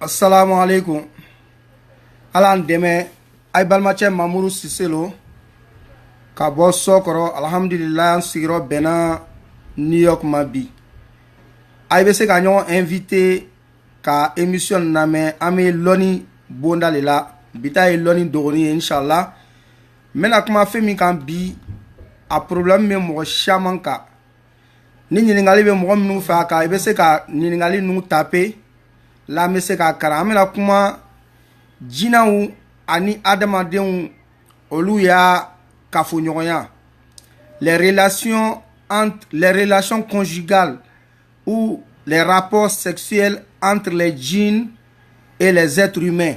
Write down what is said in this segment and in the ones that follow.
assalamu alaikum ala an dɛmɛ ayi balimacɛ mamudu sise lo ka bɔ sɔkɔrɔ alhamdulila an sigiyɔrɔ bɛnna new york ma bi ayi bɛ se ka ɲɔgɔn invité ka émission lamɛn an bɛ lɔni bonda le la bi ta ye lɔni dogoni ye inshallah n bɛna kuma fɛn min kan bi a problème bɛ mɔgɔ caman kan ni ɲininkali bɛ mɔgɔ minnu fɛ a kan i bɛ se ka ɲininkali ninnu taper la n bɛ se k'a kalan an bɛna kuma jinaw ani adamadenw olu ya kafoɲɔgɔnya les relations entre les relations conjugales ou les rapports sexuels entre les djinns et les êtres humains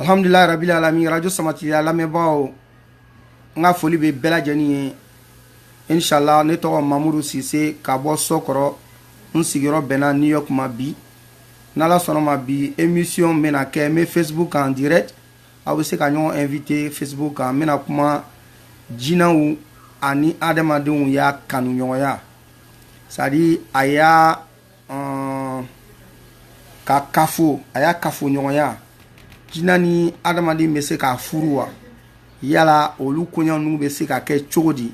alhamdulila rabil alamin radio samatigila lamɛnbaaw n ka foli bɛ bɛɛ lajɛlen ye inshallah ne tɔgɔ mamudu sise ka bɔ sɔkɔrɔ n sigiyɔrɔ bɛnna new york ma bi n'ala sɔnna ma bi émission bɛna kɛ n bɛ facebook kan direct aw bɛ se ka ɲɔgɔn invité facebook kan n bɛna kuma jinaw ani adamadenw ya kanuɲɔgɔnya c'est à dire a ya ka kafo a ya kafoɲɔgɔnya jina ni adamaden bɛ se ka furu wa yala olu koɲa ninnu bɛ se ka kɛ cogo di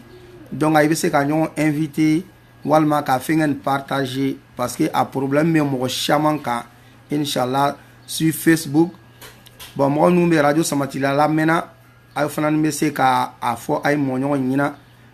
donc ayi bɛ se ka ɲɔgɔn invité walima ka fɛngɛ nin partager parce que a problème bɛ mɔgɔ caman kan inshallah sur facebook bon mɔgɔ minnu bɛ radio samatila lamɛnna aw fana bɛ se ka a fɔ ayi mɔgɔɲɔgɔn ɲɛna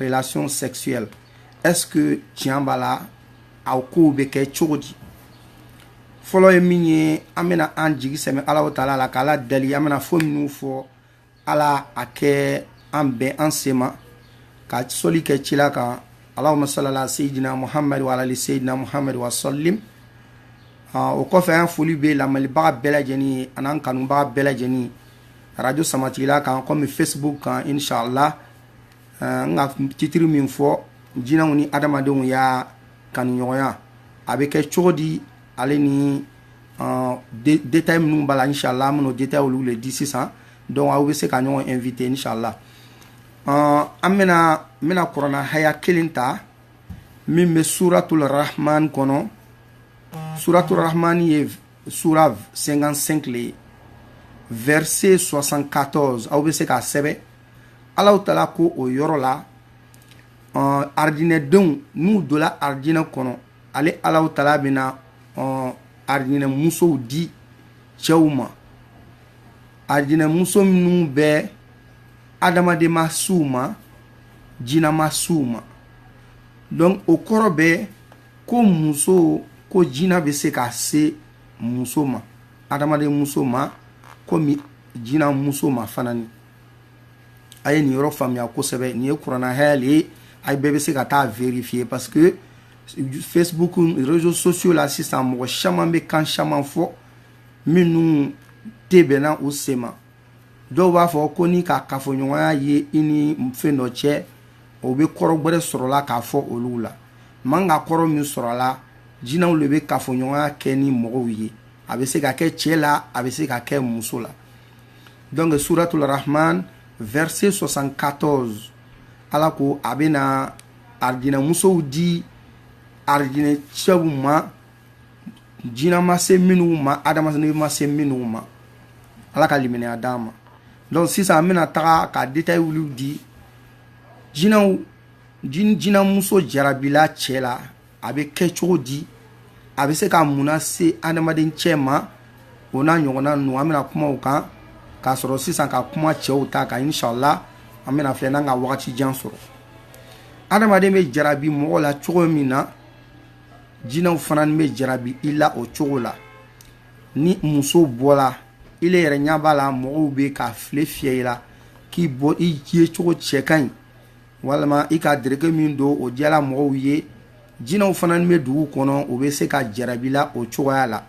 relation sexuelle est ce que tiɲɛ b'a la a kow bɛ kɛ cogo di fɔlɔ ye min ye an bɛna an jigi sɛmɛ alahu taala la k'ala dali an bɛna fo minnu fɔ ala a kɛ an bɛn an sema ka soli kɛ cila kan allahuma sali ala seyidina muhamad wa ala ali seyidina muhamad wa salim o kɔfɛ an foli bɛ lamɛnnibaga bɛɛ lajɛlen ye an'an kanubaga bɛɛ lajɛlen radio samatigila kan kɔmi facebook kan inshallah eh, n ka titiri min fɔ jinaw ni adamadenw ya kanuɲɔgɔnya a bɛ kɛ cogo di ale ni eh, détail minnu b'a la inshallah an bɛn'o détail olu le di sisan donc aw bɛ se ka ɲɔgɔn invité inshallah eh, an bɛna n bɛna kurana haya kelen ta min bɛ suratul rahman kɔnɔ suratul rahman ye sura 55 le ye verset 74 aw bɛ se k'a sɛbɛn alahu taala ko o yɔrɔ la ɔn aridinɛdenw n'u dola aridinɛ kɔnɔ ale alahu taala bɛna ɔn aridinɛ musow di cɛw ma aridinɛ muso minnu bɛ adamaden ma s'u ma jina ma s'u ma donc o kɔrɔ bɛ ko muso ko jina bɛ se ka se muso ma adamaden muso ma komi jina muso ma fana ni a ye nin yɔrɔ faamuya kosɛbɛ nin ye kurana haya le ye a bɛɛ bɛ se ka taa vérifier parce que facebook réseaux sociaux la sisan mɔgɔ caman bɛ kan caman fɔ minnu tɛ bɛnna u sen ma dɔw b'a fɔ ko n'i ka kafoɲɔgɔnya ye i ni fɛn dɔ cɛ o bɛ kɔrɔ gwɛrɛ sɔrɔla k'a fɔ olu la man ka kɔrɔ min sɔrɔla jinaw le bɛ kafoɲɔgɔnya kɛ ni mɔgɔw ye a bɛ se ka kɛ cɛ la a bɛ se ka kɛ muso la donc suratul rahman verset 74 ala ko a bɛna arijinɛmusow di arijinɛ cɛw ma jina ma se minnu ma adamaden ma se minnu ma ala ka limaniya d'an ma donc sisan an bɛna taga ka détail olu di jinamuso jarabila cɛ la a bɛ kɛ cogo di a bɛ se ka mun se adamaden cɛ ma o n'a ɲɔgɔnna ninnu an bɛna kuma o kan ka sɔrɔ sisan ka kuma cɛw ta kan inshallah an bɛna filɛ n'an ka waati jan sɔrɔ adamaden bɛ jarabi mɔgɔ la cogo min na jinaw fana ni bɛ jarabi i la o cogo la ni muso bɔla ile yɛrɛ ɲa b'a la mɔgɔw bɛ ka file fiyɛ i la k'i bɔ i ye cogo cɛ ka ɲi walima i ka dɛrɛke min don o diyala mɔgɔw ye jinaw fana ni bɛ dugu kɔnɔ o bɛ se ka jarabi i la o cogoya la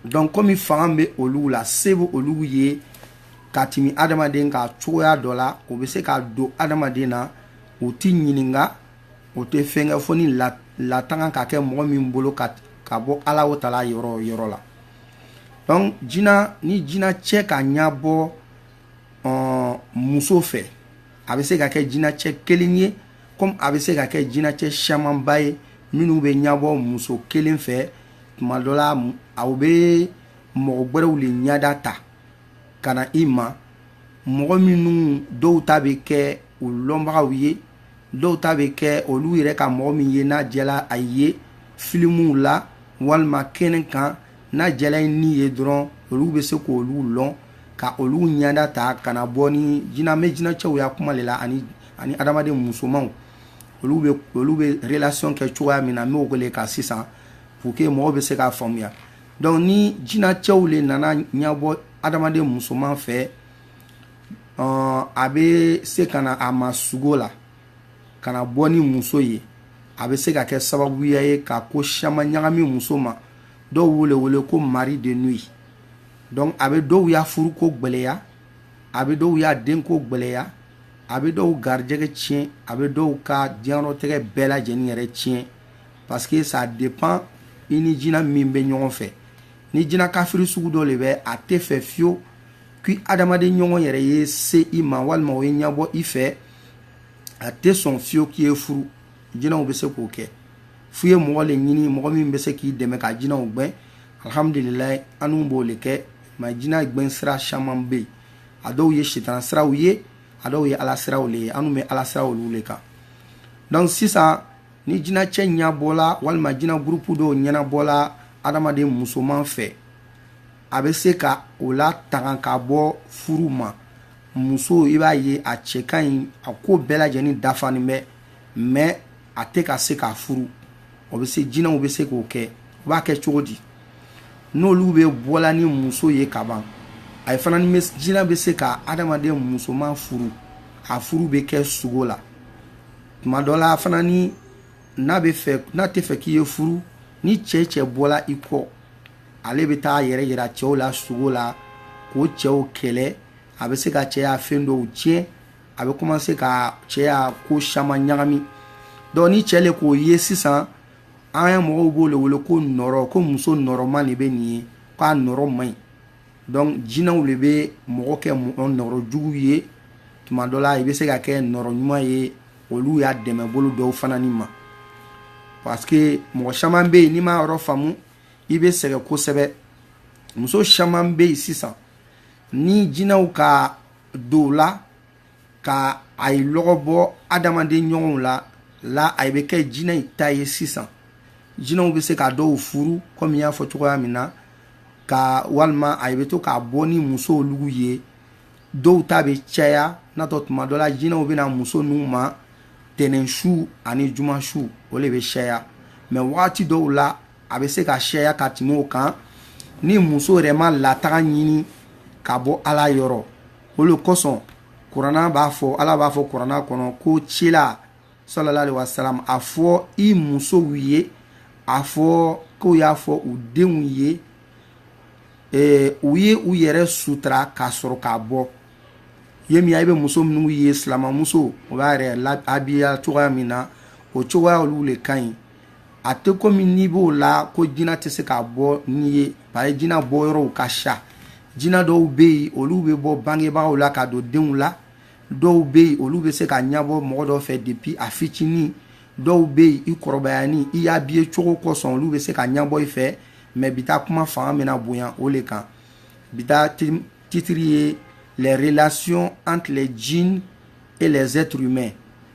donc komi fanga bɛ olu la se bɛ olu ye ka tɛmɛ adamaden ka cogoya dɔ la o bɛ se ka don adamaden na u tɛ ɲininka o tɛ fɛn kɛ fo ni latanga ka kɛ mɔgɔ min bolo ka bɔ alahu taala yɔrɔ yɔrɔ la donc jina ni jinacɛ ka ɲabɔ muso fɛ a bɛ se ka kɛ jinacɛ kelen ye komi a bɛ se ka kɛ jinacɛ siyamanba ye minnu bɛ ɲabɔ muso kelen fɛ tuma dɔ la aw bɛ mɔgɔ gwɛrɛw le ɲada ta ka na i ma mɔgɔ minnu dɔw ta bɛ kɛ u lɔnbagaw ye dɔw ta bɛ kɛ olu yɛrɛ ka mɔgɔ min ye n'a diyala a ye filimuw la walima kɛnɛ kan n'a diyala i ni ye dɔrɔn olu bɛ se k'olu lɔn ka olu ɲada ta ka na bon ni jina n bɛ jinacɛw ya kuma le la ani adamaden musomanw olu bɛ olu bɛ relation kɛ cogoya min na n b'o ko le kan sisan pour que mɔgɔw bɛ se k'a faamuya donc ni jinacɛw le nana ɲabɔ adamaden musoman fɛ a bɛ se ka na a ma sugo la ka na bɔ ni muso ye a bɛ se ka kɛ sababuya ye ka ko siyaman ɲagami muso ma dɔw wele wele ko mari de nuit donc a bɛ dɔw y'a furu ko gɛlɛya a bɛ dɔw y'a den ko gɛlɛya a bɛ dɔw garijɛgɛ tiɲɛ a bɛ dɔw ka diɲɛlatigɛ bɛɛ lajɛlen yɛrɛ tiɲɛ parce que ça dépend i ni jinɛ min bɛ ɲɔgɔn fɛ ni jinɛ kafiri sugu dɔ de bɛ a tɛ fɛ fiyewu k'i adamaden ɲɔgɔn yɛrɛ ye se i ma walima o ye ɲɛbɔ i fɛ a tɛ sɔn fiyewu k'i ye furu jinɛw bɛ se k'o kɛ f'u ye mɔgɔ le ɲini mɔgɔ min bɛ se k'i dɛmɛ ka jinɛw gbɛn alhamdulilayi anw b'o le kɛ mais jinɛ gbɛn sira caman bɛ yen a dɔw ye sitana siraw ye a dɔw ye ala siraw le ye anw bɛ ala siraw olu le kan donc sisan ni jinɛ cɛ ɲɛbɔla walima jinɛ gurupu dɔw ɲɛnabɔla adamaden musoman fɛ a bɛ se ka o latanga ka bɔ furu ma muso i b'a ye a cɛ ka ɲi a ko bɛɛ lajɛlen dafanin bɛ mais a tɛ ka se ka furu o bɛ se jinɛw bɛ se k'o kɛ u b'a kɛ cogo di n'olu bɛ bɔla ni muso ye ka ban a ye fana ni jinɛ bɛ se ka adamaden musoman furu a furu bɛ kɛ sugo la tuma dɔ la fana ni n'a tɛ fɛ k'i ye furu ni cɛ cɛ bɔla i kɔ ale bɛ t'a yɛrɛ yira cɛw la sugo la k'o cɛw kɛlɛ a bɛ se ka cɛ y'a fɛn dɔw tiɲɛ a bɛ commencer ka cɛ y'a ko caman ɲagami donc ni cɛ le k'o ye sisan an ye mɔgɔw b'o le wele ko nɔrɔ ko muso nɔrɔma de bɛ nin ye k'a nɔrɔ man ɲi donc jinɛw de bɛ mɔgɔ kɛ mɔgɔ nɔrɔ jugu ye tuma dɔ la i bɛ se ka kɛ nɔrɔ ɲuman ye olu y'a dɛmɛ bolo dɔw fana ni ma parce que mɔgɔ caman bɛ yen n'i m'a yɔrɔ faamu i bɛ sɛgɛn kosɛbɛ muso caman bɛ yen sisan ni jinɛw ka don u la ka ayi lɔgɔ bɔ adamaden ɲɔgɔnw la la a bɛ kɛ jinɛ in ta ye sisan jinɛw bɛ se ka dɔw furu kɔmi y'a fɔ cogoya min na ka walima a bɛ to k'a bɔ ni musow lugu ye dɔw ta bɛ caya n'a tɔ tuma dɔ la jinɛw bɛ na muso ninnu ma tɛnɛn su ani juma su o de bɛ caya mais wagati dɔw la a bɛ se ka caya ka tɛmɛ o kan ni muso yɛrɛ ma latanga ɲini ka bɔ ala yɔrɔ o de kosɔn kurana b'a fɔ ala b'a fɔ kurana kɔnɔ ko cila salala alaihi wasalam a fɔ i musow ye a fɔ k'u y'a fɔ u denw ye ee, u ye u yɛrɛ sutura ka sɔrɔ ka bɔ ye min i bɛ muso minnu ye silamamuso o b'a yɛrɛ abiya cogoya min na o cogoya olu de ka ɲi a tɛ comme n'i b'o la ko jina tɛ se ka bɔ n'i ye bari jina bɔ yɔrɔw ka ca jina dɔw bɛ yen olu bɛ bɔ bangebagaw la ka don denw la dɔw bɛ yen olu bɛ se ka ɲɛbɔ mɔgɔ dɔw fɛ depuis a fitinin dɔw bɛ yen i kɔrɔbayani i ya habiller cogo kosɔn olu bɛ se ka ɲɛbɔ i fɛ mais bi ta kuma fanga bɛna bonya o le kan bi ta titre ye les relations entre les djinns et les êtres humains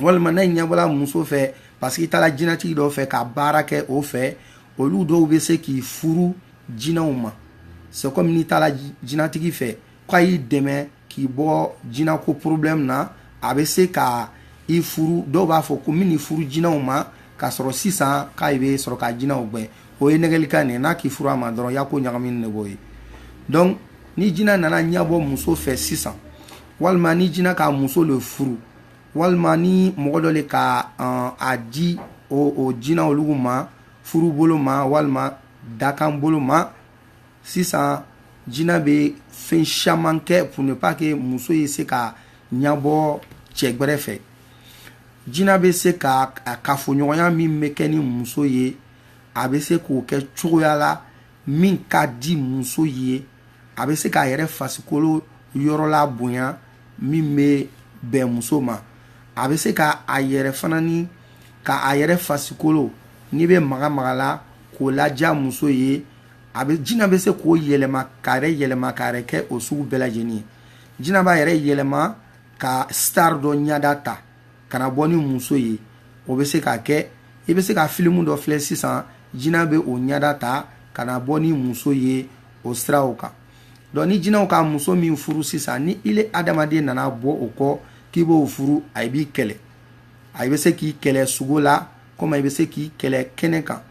walima n'a ɲɛbɔla muso fɛ parce que i taara jinɛtigi dɔ fɛ ka baara kɛ o fɛ olu dɔw bɛ se k'i furu jinɛw ma c'est comme n'i taara jinɛtigi fɛ k'a y'i dɛmɛ k'i bɔ jinɛko problème na a bɛ se ka i furu dɔw b'a fɔ k'o bɛn'i furu jinɛw ma ka sɔrɔ sisan k'a bɛ sɔrɔ ka jinɛw gɛn o ye nɛgɛlikan nin n'a k'i furu a ma dɔrɔn i ya ko ɲagaminen b'o ye donc ni jinɛ nana ɲɛbɔ muso fɛ sisan walima ni jinɛ ka muso le furu walima ni mɔgɔ dɔ le ka uh, a di o, o jina olugu ma furu bolo ma walima dakan bolo ma sisan jina bɛ fɛn caman kɛ pour ne pas que muso ye se ka ɲabɔ cɛ gbɛrɛ fɛ jina bɛ se ka kafoɲɔgɔnya min bɛ kɛ ni muso ye a bɛ se k'o kɛ cogoya la min ka di muso ye a bɛ se k'a yɛrɛ fasikolo yɔrɔ la bonya min bɛ bɛn muso ma a bɛ se ka a yɛrɛ fana ni ka a yɛrɛ fasikolo n'i bɛ maga maga la k'o ladiya muso ye a bɛ jinɛ bɛ se k'o yɛlɛma k'a yɛrɛ yɛlɛma k'a yɛrɛ kɛ o sugu bɛɛ lajɛlen ye jinɛ b'a yɛrɛ yɛlɛma ka star dɔ ɲɛda ta ka na bɔ ni muso ye o bɛ se ka kɛ i bɛ se ka filimu dɔ filɛ sisan jinɛ bɛ o ɲɛda ta ka na bɔ ni muso ye o siraw kan donc ni jinɛw ka muso min furu sisan ni i le adamaden nana bɔ o kɔ k'i b'o furu a b'i kɛlɛ a bɛ se k'i kɛlɛ sugo la comme i bɛ se k'i kɛlɛ kɛnɛ kan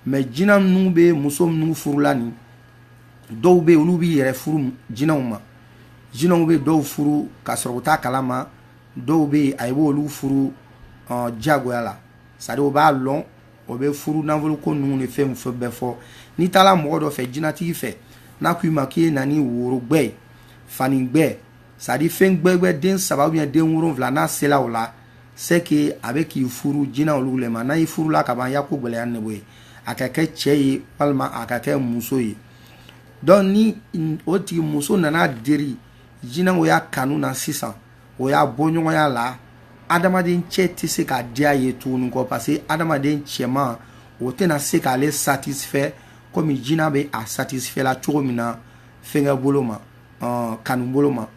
mais jinɛ ninnu bɛ muso minnu furu la nin dɔw bɛ olu b'i yɛrɛ furu jinɛw ma jinɛw bɛ dɔw furu ka sɔrɔ u t'a kalama dɔw bɛ a b'olu furu diyagoya la c'est-à-dire o b'a lɔn o bɛ furu nafolo ko ninnu ni fɛn fɛn bɛɛ fɔ n'i taara mɔgɔ dɔ fɛ jinɛtigi fɛ n'a ko i ma k'i ye na ni worogbɛ ye fanigbɛ c'est-à-dire fɛn gbɛgbɛ den saba ou bien den wolonwula n'a sela o la c'est que a bɛ k'i furu jinɛ olu le ma n'a y'i furu la ka ban i ya ko gɛlɛyanen b'o ye a ka kɛ cɛ ye walima a ka kɛ muso ye donc ni o tigi muso nana deri jinɛw ya kanu na sisan o y'a bɔɲɔgɔnya la adamaden cɛ tɛ se ka diya ye tuguni kɔ parce que adamaden cɛman o tɛna se k'ale satisfait komi jina bɛ a satisfait la cogo min na fɛnkɛ bolo ma euh, kanu bolo ma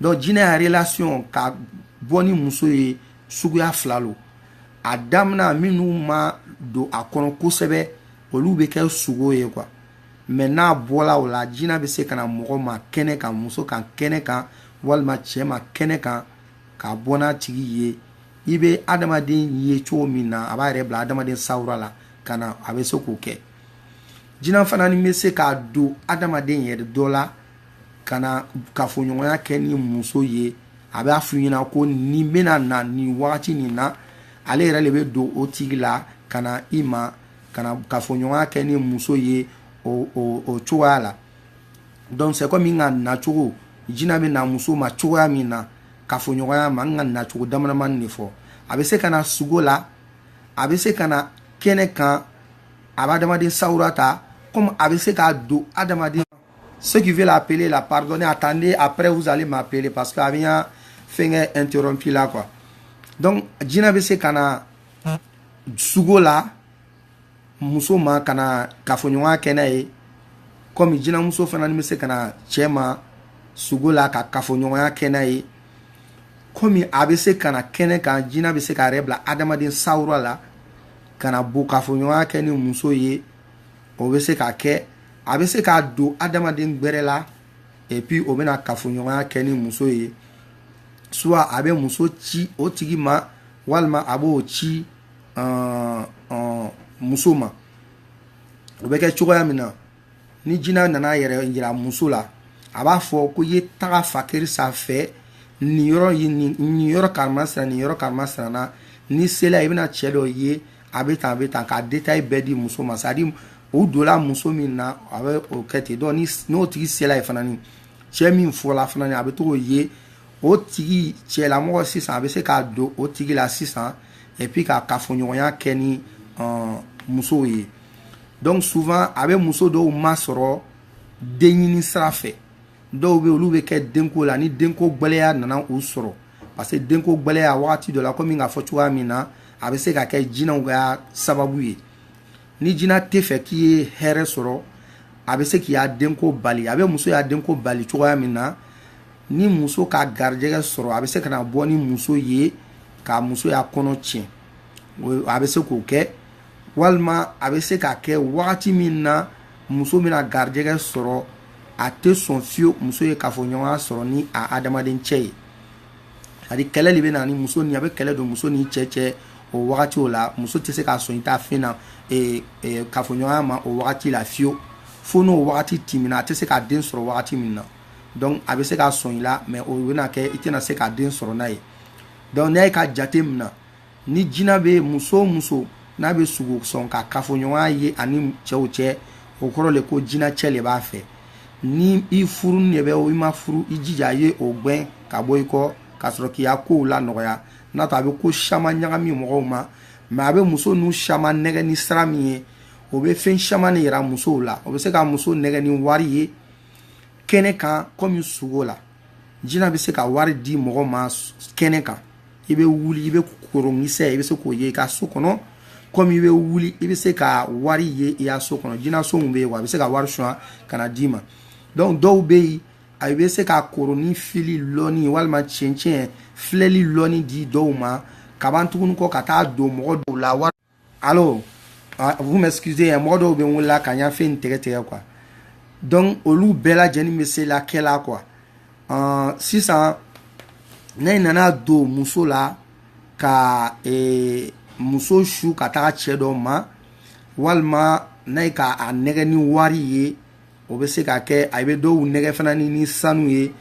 donc jina ya relation ka bɔ ni muso ye suguya fila lo a damina minnu ma don a kɔnɔ kosɛbɛ olu bɛ kɛ sogo ye quoi mais n'a bɔla o la jina bɛ se ka na mɔgɔ ma kɛnɛ kan muso kan kɛnɛ kan walima cɛ ma kɛnɛ kan ka bɔ n'a tigi ye i bɛ adamaden ye cogo min na a b'a yɛrɛ bila adamaden sawura la ka na a bɛ se k'o kɛ jina fana ni bɛ se ka don adamaden yɛrɛ dɔ la ka na kafoɲɔgɔnya kɛ ni muso ye a b'a f'u ɲɛna ko nin bɛna na nin wagati nin na ale yɛrɛ le bɛ don o tigi la ka na i ma ka na kafoɲɔgɔnya kɛ ni muso ye o o o cogoya la donc c'est comme n k'a nacogo jina bɛ na muso ma cogoya min na kafoɲɔgɔnya ma n k'a nacogo damadamani le fɔ a bɛ se ka na sugo la a bɛ se ka na kɛnɛ kan a bɛ adamaden sawura ta comme a bɛ se ka don adamaden ceux qui veulent appeler là pardonnez attendez après vous allez m'appeler parce que a bɛ n ka fɛnkɛ interrompu la quoi donc jina bɛ se ka na sugo la muso ma ka na kafoɲɔgɔnya kɛ n'a ye kɔmi jinamuso fana ni bɛ se ka na cɛ ma sugo la ka kafoɲɔgɔnya kɛ n'a ye kɔmi a bɛ se ka na kɛnɛ kan jina bɛ se k'a yɛrɛ bila adamaden sawura la ka na bɔ kafoɲɔgɔnya kɛ ni muso ye o bɛ se ka kɛ a bɛ se ka don adamaden gbɛrɛ la et puis o bɛna kafoɲɔgɔnya kɛ ni muso ye soit a bɛ muso ci o tigi ma walima a b'o ci uh, uh, muso ma o bɛ kɛ cogoya min na ni jina nana yɛrɛ yira muso la a b'a fɔ ko i ye taga fan karisa fɛ nin yɔrɔ ye nin yɔrɔ karimasina nin yɔrɔ karimasina na n'i sela i bɛna cɛ dɔ ye a bɛ tan a bɛ tan k'a détail bɛɛ di muso ma c'est à dire o donla muso min na a bɛ o kɛ ten donc n'o tigi sela yen fana ni cɛ min fɔla fana ni a bɛ to k'o ye o tigi cɛlamɔgɔ sisan a bɛ se ka don o tigi la sisan et puis ka kafoɲɔgɔnya kɛ ni uh, musow ye donc souvent a bɛ muso dɔw masɔrɔ den ɲini sira fɛ dɔw bɛ olu bɛ kɛ denko la ni denko gbɛlɛya nana u sɔrɔ parce que denko gbɛlɛya wagati dɔ la komi n k'a fɔ cogoya min na a bɛ se ka kɛ jinaw ya sababu ye ni jina tɛ fɛ k'i ye hɛrɛ sɔrɔ a bɛ se k'i ya denko bali a bɛ muso ya denko bali cogoya min na ni muso ka garijɛgɛ sɔrɔ a bɛ se ka na bɔ ni muso ye ka muso y'a kɔnɔ tiɲɛ a bɛ se k'o kɛ walima a bɛ se ka kɛ wagati min na muso bɛna garijɛgɛ sɔrɔ a tɛ sɔn fiyewu muso ye kafoɲɔgɔnya sɔrɔ ni a adamaden cɛ ye ani kɛlɛ de bɛ na ni muso ni a bɛ kɛlɛ don muso ni cɛ cɛ o wagati o la muso tɛ se ka sɔn i t'a fɛn na ee, ee, kafoɲɔgɔnya ma o wagati la fiyewu fo n'o wagati tɛmɛna a tɛ se ka den sɔrɔ wagati min na donc a bɛ se ka sɔn i la mais o bɛna kɛ i tɛna se ka den sɔrɔ n'a ye donc n'a ye ka jate minɛ ni jina bɛ muso o muso n'a bɛ sugo sɔn ka kafoɲɔgɔnya ye ani cɛw cɛ o kɔrɔ le ko jina cɛ le b'a fɛ ni i furulen bɛ o i ma furu i jija a ye o gɛn ka bɔ i kɔ ka sɔrɔ k'i ka kow la nɔgɔya n'o tɛ a bɛ ko caman ɲagami mɔgɔw ma mais a bɛ muso ninnu caman nɛgɛ ni sira min ye o bɛ fɛn caman de yira musow la o bɛ se ka muso nɛgɛ ni wari ye kɛnɛ kan kɔmi sugo la jina bɛ se ka wari di mɔgɔ ma kɛnɛ kan i bɛ wuli i bɛ koronkisɛ i bɛ se k'o ye i ka so kɔnɔ kɔmi i bɛ wuli i bɛ se ka wari ye i ka so kɔnɔ jinaso min bɛ yen wa a bɛ se ka wari suɲɛ ka na d'i ma donc dɔw bɛ yen a bɛ se ka koroni fili lɔni walima cɛncɛn filɛli lɔni di dɔw ma ka ban tuguni kɔ ka taa don mɔgɔ dɔw la wari allo ah, vous m'excusez hein, mɔgɔ dɔw bɛ n wele ka n ya fɛn tigɛ tigɛ quoi donc olu bɛɛ lajɛlen bɛ se la kɛ la quoi uh, sisan ne nana don muso la ka eh, muso su ka taga cɛ dɔ ma walima n'a ye ka a nɛgɛ ni wari ye o bɛ se ka kɛ a bɛ dɔw nɛgɛ fana ni ni sanu ye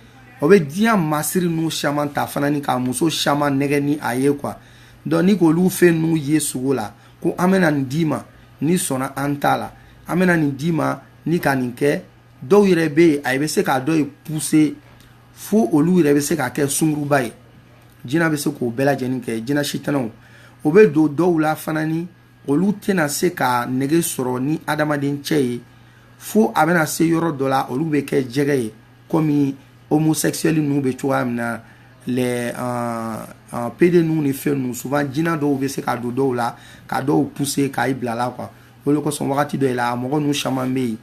o bɛ diɲɛ masiri ninnu caman ta fana ni ka muso caman nɛgɛ ni a ye quoi donc ni k'olu fɛn ninnu ye sugo la ko an bɛna nin d'i ma n'i sɔnna an ta la an bɛna nin d'i ma n'i ka nin kɛ dɔw yɛrɛ bɛ yen a bɛ se ka dɔ ye pousser fo olu yɛrɛ bɛ se ka kɛ sunguruba ye jinɛ bɛ se k'o bɛɛ lajɛlen kɛ jinɛ sitanɛw o bɛ don dɔw la fana ni olu tɛna se ka nege sɔrɔ ni adamaden cɛ ye fo a bɛna se yɔrɔ dɔ la olu bɛ kɛ jɛgɛ ye komi homosexuel ninnu bɛ cogoya min na les euh, euh, pédé ninnu ni fɛn ninnu souvent jina dɔw bɛ se ka don dɔw la ka dɔw pousser ka i bila la quoi o de kosɔn wagati dɔ la mɔgɔ ninnu caman bɛ yen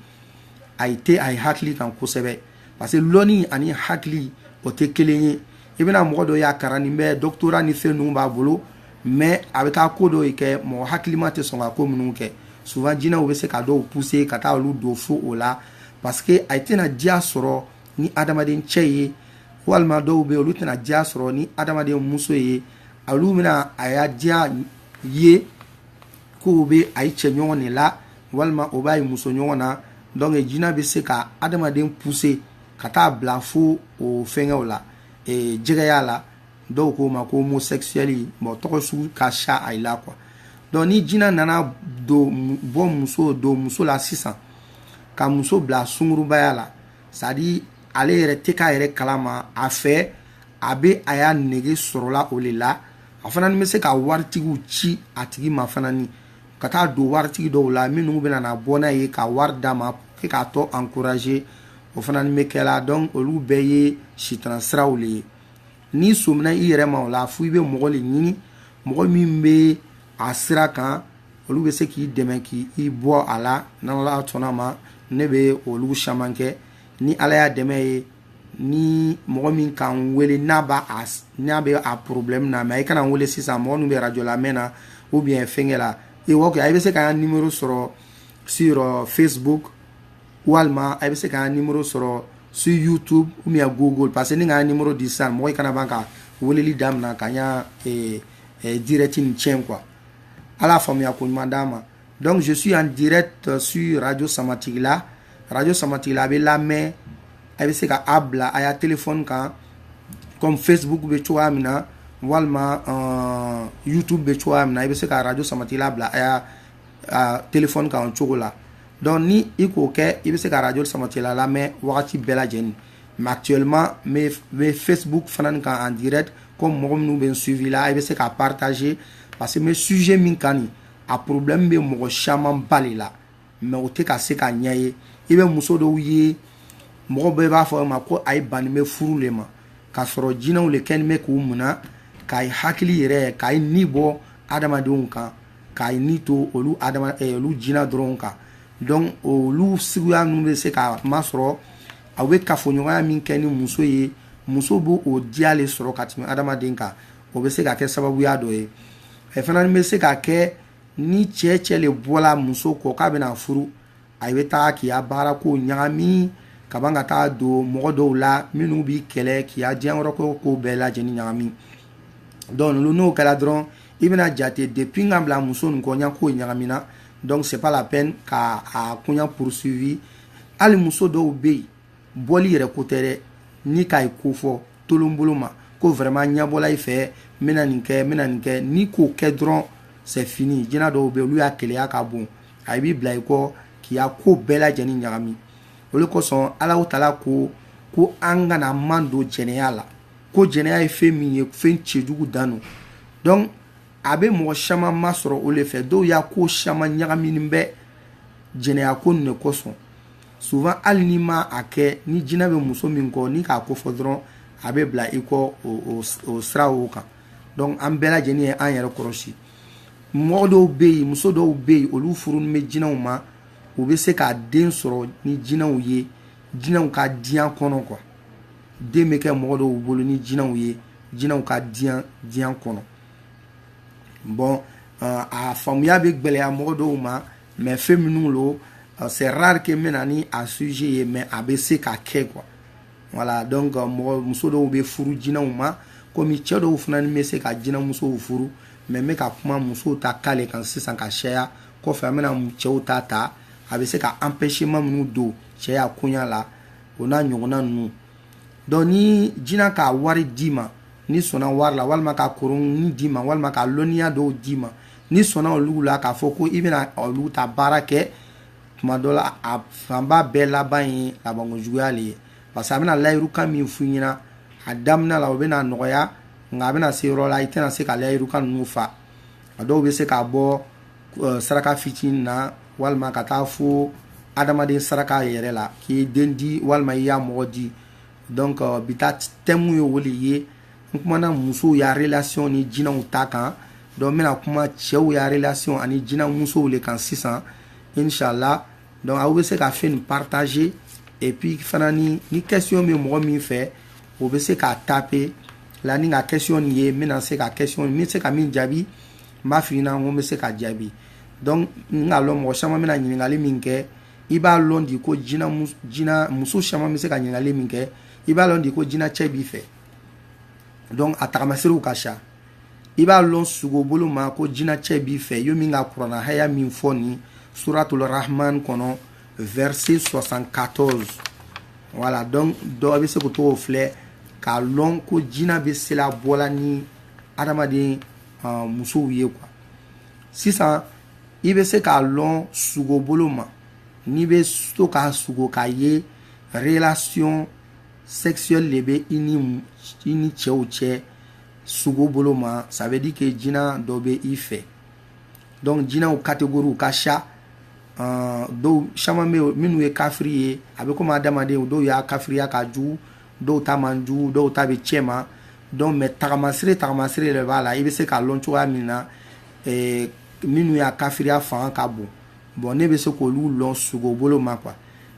a ye tɛ a ye hakili kan kosɛbɛ parce que lɔni ani hakili o tɛ kelen ye i bɛna mɔgɔ dɔ y'a karannin bɛ doctorat ni fɛn ninnu b'a bolo mais a bɛ taa ko dɔ kɛ mɔgɔ hakilima tɛ sɔn ka ko minnu kɛ souvent jinɛw bɛ se ka dɔw pousser ka taa olu don fo o la parce que a tɛna diya sɔrɔ ni adamaden cɛ ye walima dɔw bɛ yen olu tɛna diya sɔrɔ ni adamaden muso ye olu bɛna a ya diya ye k'o bɛ a ye cɛ ɲɔgɔn ne la walima o b'a ye muso ɲɔgɔn na donc jina bɛ se ka adamaden pousser ka taa bila fo o fɛngɛw la e, jɛgɛya la dɔw k'o ma ko homosexuel bon tɔgɔ sugu ka siya a la quoi donc ni jina nana don bɔ muso don muso la sisan ka muso bila sungurubaya la c'est à dire ale yɛrɛ tɛ k'a yɛrɛ kalama a fɛ a bɛ a ya nege sɔrɔla o le la a fana ni bɛ se ka waritigiw ci a tigi ma fana ni ka taa don waritigi dɔw la minnu bɛna na bɔ n'a ye ka wari d'a ma k'a tɔ encourager o fana ni bɛ kɛ la donc olu bɛɛ ye sitana siraw le ye n'i sɔmina i yɛrɛ ma o la fo i bɛ mɔgɔ le ɲini mɔgɔ min bɛ a sira kan olu bɛ se k'i dɛmɛ k'i bɔ a la n'ala sɔnna ma ne bɛ olu caman kɛ ni ala ya dɛmɛ ye ni mɔgɔ min ka n wele n'a b'a a n'a bɛ a problème na mais i kana n wele sisan mɔgɔ min bɛ radio lamɛn na ou bien fɛngɛ la ok a bɛ se ka n ya numéro sɔrɔ sur euh, Facebook walima a bɛ se ka n ya numéro sɔrɔ sur YouTube ou bien Google parce que ni ka n ya numéro di sisan mɔgɔ i kana ban ka weleli damina ka n ya eh, eh, direct nin cɛn quoi ala faamuya ko ɲuman d'an ma donc je suis en direct euh, sur radio samatigila radio samatigila a bɛ lamɛn a bɛ se ka a bila a ya téléphone kan comme facebook bɛ cogoya min na walima euh, youtube bɛ cogoya min na i bɛ se ka radio samatigila bila a ya a téléphone kan o cogo la donc ni i k'o kɛ i bɛ se ka radio samatigila lamɛn wagati bɛɛ lajɛni mais actuellement n bɛ facebook fana nin kan en direct comme mɔgɔ minnu bɛ n suivi la i bɛ se ka partager parce que n bɛ sujet min kan nin a problème bɛ mɔgɔ caman ba le la mais o tɛ ka se k'a ɲɛ ye i bɛ muso dɔw ye mɔgɔ bɛɛ b'a fɔ ma ko a ye banni bɛ furu le ma k'a sɔrɔ jinaw le kɛni bɛ k'o mina k'a ye hakili yɛrɛ k'a ye ni bɔ adamadenw kan k'a ye ni to olu eh, olu jina dɔrɔn kan donc olu siguya ninnu bɛ se k'a masɔrɔ aw bɛ kafoɲɔgɔnya min kɛ ni muso ye muso b'o o diya le sɔrɔ ka tɛmɛ adamaden kan o bɛ se ka kɛ sababuya dɔ ye a fana ni bɛ se ka kɛ ni cɛ cɛ le bɔla muso kɔ k'a bɛna furu a bɛ taa k'i ya baara kow ɲagami ka ban ka taa don mɔgɔ dɔw la minnu b'i kɛlɛ k'i ya diyankɔrɔ ko kow bɛɛ lajɛni ɲagami donc n'o kɛla dɔrɔn i bɛna jate depuis n ka bila muso nin kɔ n ya kow ɲagamina donc c'est pas la peine ka a koɲa poursuivi hali muso dɔw bɛ yen bɔli yɛrɛ ko tɛ dɛ n'i k'a ye ko fɔ tolonbolo ma ko vraiment ɲabɔla i fɛ n bɛna nin kɛ n bɛna nin kɛ n'i k'o kɛ dɔrɔn c'est fini jina dɔw bɛ olu ya keleya ka bon a b'i bila i kɔ k'i ya ko bɛɛ lajɛlen ɲagami o le kosɔn alawutala ko ko an kana madon jɛnɛya la ko jɛnɛya ye fɛn min ye fɛn cɛjugu dan don donc a bɛ mɔgɔ caman masɔrɔ o le fɛ dɔw ya ko caman ɲagaminen bɛ jɛnɛya ko nin de kosɔn souvent hali n'i ma a kɛ ni jina bɛ muso min kɔ n'i k'a kofɔ dɔrɔn a bɛ bila i kɔ o sira o kan donc an bɛɛ lajɛlen ye an yɛrɛ kɔrɔsi mɔgɔ dɔw bɛ yen muso dɔw bɛ yen olu furunin bɛ jinaw ma u bɛ se ka den sɔrɔ ni jinaw ye jinaw ka diɲa kɔnɔ quoi den bɛ kɛ mɔgɔ dɔw bolo ni jinaw ye jinaw ka diɲa kɔnɔ bon a faamuya bɛ gwɛlɛya mɔgɔ dɔw ma mais fɛn minnu lo euh, c'est rare que n bɛ na ni a sujet ye mais a bɛ se ka kɛ quoi voilà donc euh, mɔgɔ muso dɔw bɛ furu jinaw ma komi cɛ dɔw fana ni bɛ se ka jinamusow furu mais n bɛ ka kuma musow ta cas le kan sisan ka caya kɔfɛ an bɛna cɛw ta ta a bɛ se ka empêchement minnu don cɛya koɲa la o n'a ɲɔgɔnna ninnu donc ni jina ka wari d'i ma n'i sɔnna wari la walima ka koronnin d'i ma walima ka lɔnniya dɔw d'i ma n'i sɔnna olu la k'a fɔ ko i bɛna olu ta baara kɛ tuma dɔ la a fanba bɛɛ laban ye labanko juguya le ye parce que a bɛna layirukan min f'i ɲɛna a damina la o bɛna nɔgɔya nka a bɛna se yɔrɔ la i tɛna se ka layirukan ninnu fa a dɔw bɛ se k'a bɔ eh, saraka fitinin na walima ka taa fo adamaden saraka yɛrɛ la k'i den di walima i ya mɔgɔ di donc eh, bi ta tɛmu ye o le ye n kumana musow ya relation ni jinaw ta kan donc n bɛna kuma cɛw ya relation ani jina musow le kan sisan inshallah donc aw bɛ se ka fɛn nin partager et puis fana ni ni question bɛ mɔgɔ min fɛ o bɛ se k'a taper là ni n ka question nin ye n bɛna se ka question n bɛ se ka min jaabi n b'a f'i ɲɛna ko n bɛ se ka jaabi donc n k'a lɔn mɔgɔ caman bɛna ɲininkali min kɛ i b'a lɔn di ko jina jina muso caman bɛ se ka ɲininkali min kɛ i b'a lɔn di ko jinacɛ b'i fɛ donc a tagamasiriw ka ca i b'a lɔn sugobolo ma ko jinacɛ b'i fɛ yo min ka kurana haya min fɔ ni suratul rahman kɔnɔ verset 74 voilà donc dɔ bɛ se k'o tɔgɔ filɛ k'a lɔn ko jina bɛ sela bɔla ni adamaden uh, musow ye quoi sisan i bɛ se k'a lɔn sugobolo ma n'i bɛ to ka sugo k'a ye relation sexuelle le bɛ i ni i ni cɛw cɛ sugo bolo ma ça veut dire que jina dɔ bɛ i fɛ donc jinaw catégorie ka siya uh, dɔw caman bɛ yen minnu ye kafiri ye a bɛ komi adamaden dɔw y'a kafiriya ka jugu dɔw ta man jugu dɔw ta bɛ cɛma donc mais tagamasire tagamasire de b'a la i bɛ se k'a lɔn cogoya min na eh, minnu y'a kafiriya fanga ka bon bon ne bɛ se k'olu lɔn sugo bolo ma quoi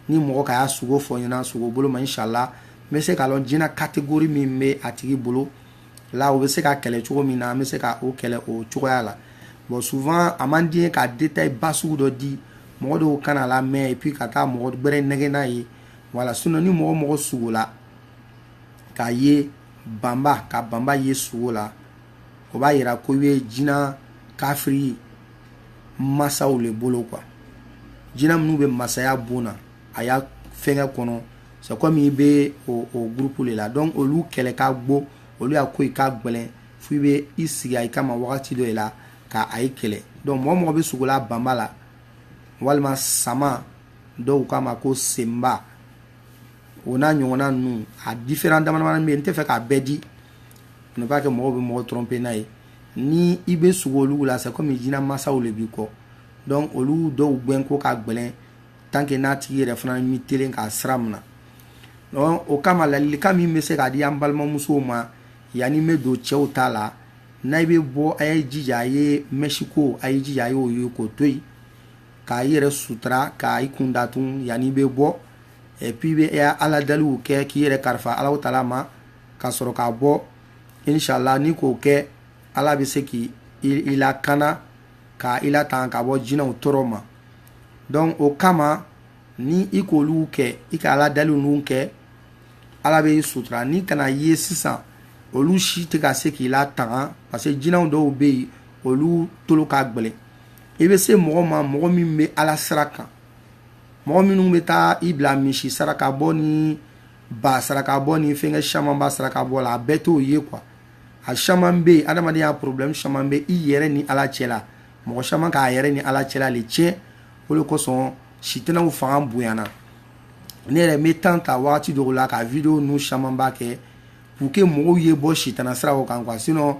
ni mɔgɔ ka y'a sugo fɔ n ɲɛna sugo bolo ma inshallah n bɛ se k'a lɔn jina catégorie min bɛ a tigi bolo la o bɛ se ka kɛlɛ cogo min na n bɛ se ka o kɛlɛ o cogoya la bon souvent a man di n ye ka détail ba sugu dɔ di mɔgɔ dɔw kan'a lamɛn et puis ka taa mɔgɔ gbɛrɛ nɛgɛn n'a ye voilà sinon ni mɔgɔ mɔgɔ sugola k'a ye banba ka banba ye sugo la o b'a yira ko i bɛ jina kafiri masaw le bolo quoi jina minnu bɛ masaya bon na a y'a fɛngɛ kɔnɔ c'est comme i bɛ o o groupe le la donc olu kɛlɛ ka gbo olu y'a ko i ka gɛlɛn fo i bɛ i sigi ayi kama wagati dɔ de la ka ayi kɛlɛ donc mɔgɔ mɔgɔ bɛ sugo la banba la walima sama dɔw k'a ma ko senba o n'a ɲɔgɔnna ninnu a différent damadamanin bɛ yen n tɛ fɛ k'a bɛɛ di ne pas que mɔgɔw bɛ mɔgɔ tromper n'a ye ni i bɛ sugo olu la c'est comme jina masaw le b'i kɔ donc olu dɔw gɛn ko ka gɛlɛn tant que n'a tigi yɛrɛ fana ma telen ka sira mina o kama ladilikan min bɛ se k'a di an balimamusow ma yanani n bɛ don cɛw ta la n'ayi bɛ bɔ a ye jija a ye mɛsiko a ye jija a y'o ye k'o to yen k'a yɛrɛ sutura k'a i kun datugu yanani i bɛ bɔ et puis i bɛ ala daliw kɛ k'i yɛrɛ kalifa ala taala ma ka sɔrɔ ka bɔ inshallah n'i k'o kɛ ala bɛ se k'i lakana ka i latanga ka bɔ jinaw tɔɔrɔ ma donc o kama ni i k'olu kɛ i ka ala daliw ninnu kɛ ala bɛ i sutura ni kana ye sisan olu si tɛ ka se k'i latanga parce que jinaw dɔw bɛ yen olu tolo ka gɛlɛn i bɛ se mɔgɔ ma mɔgɔ min bɛ ala sira kan mɔgɔ minnu bɛ taa i bila misi saraka bɔ ni ba saraka bɔ ni fɛnkɛ caman ba saraka bɔ la a bɛɛ t'o ye quoi a caman bɛ yen adamadenya problème caman bɛ i yɛrɛ ni ala cɛ la mɔgɔ caman k'a yɛrɛ ni ala cɛla le tiɲɛ o de kosɔn sitanaw fanga bonyana ne yɛrɛ n bɛ temps ta wagati dɔw la ka video nu caman ba kɛ pour que mɔgɔw ye bɔ sitana siraw kan quoi sinon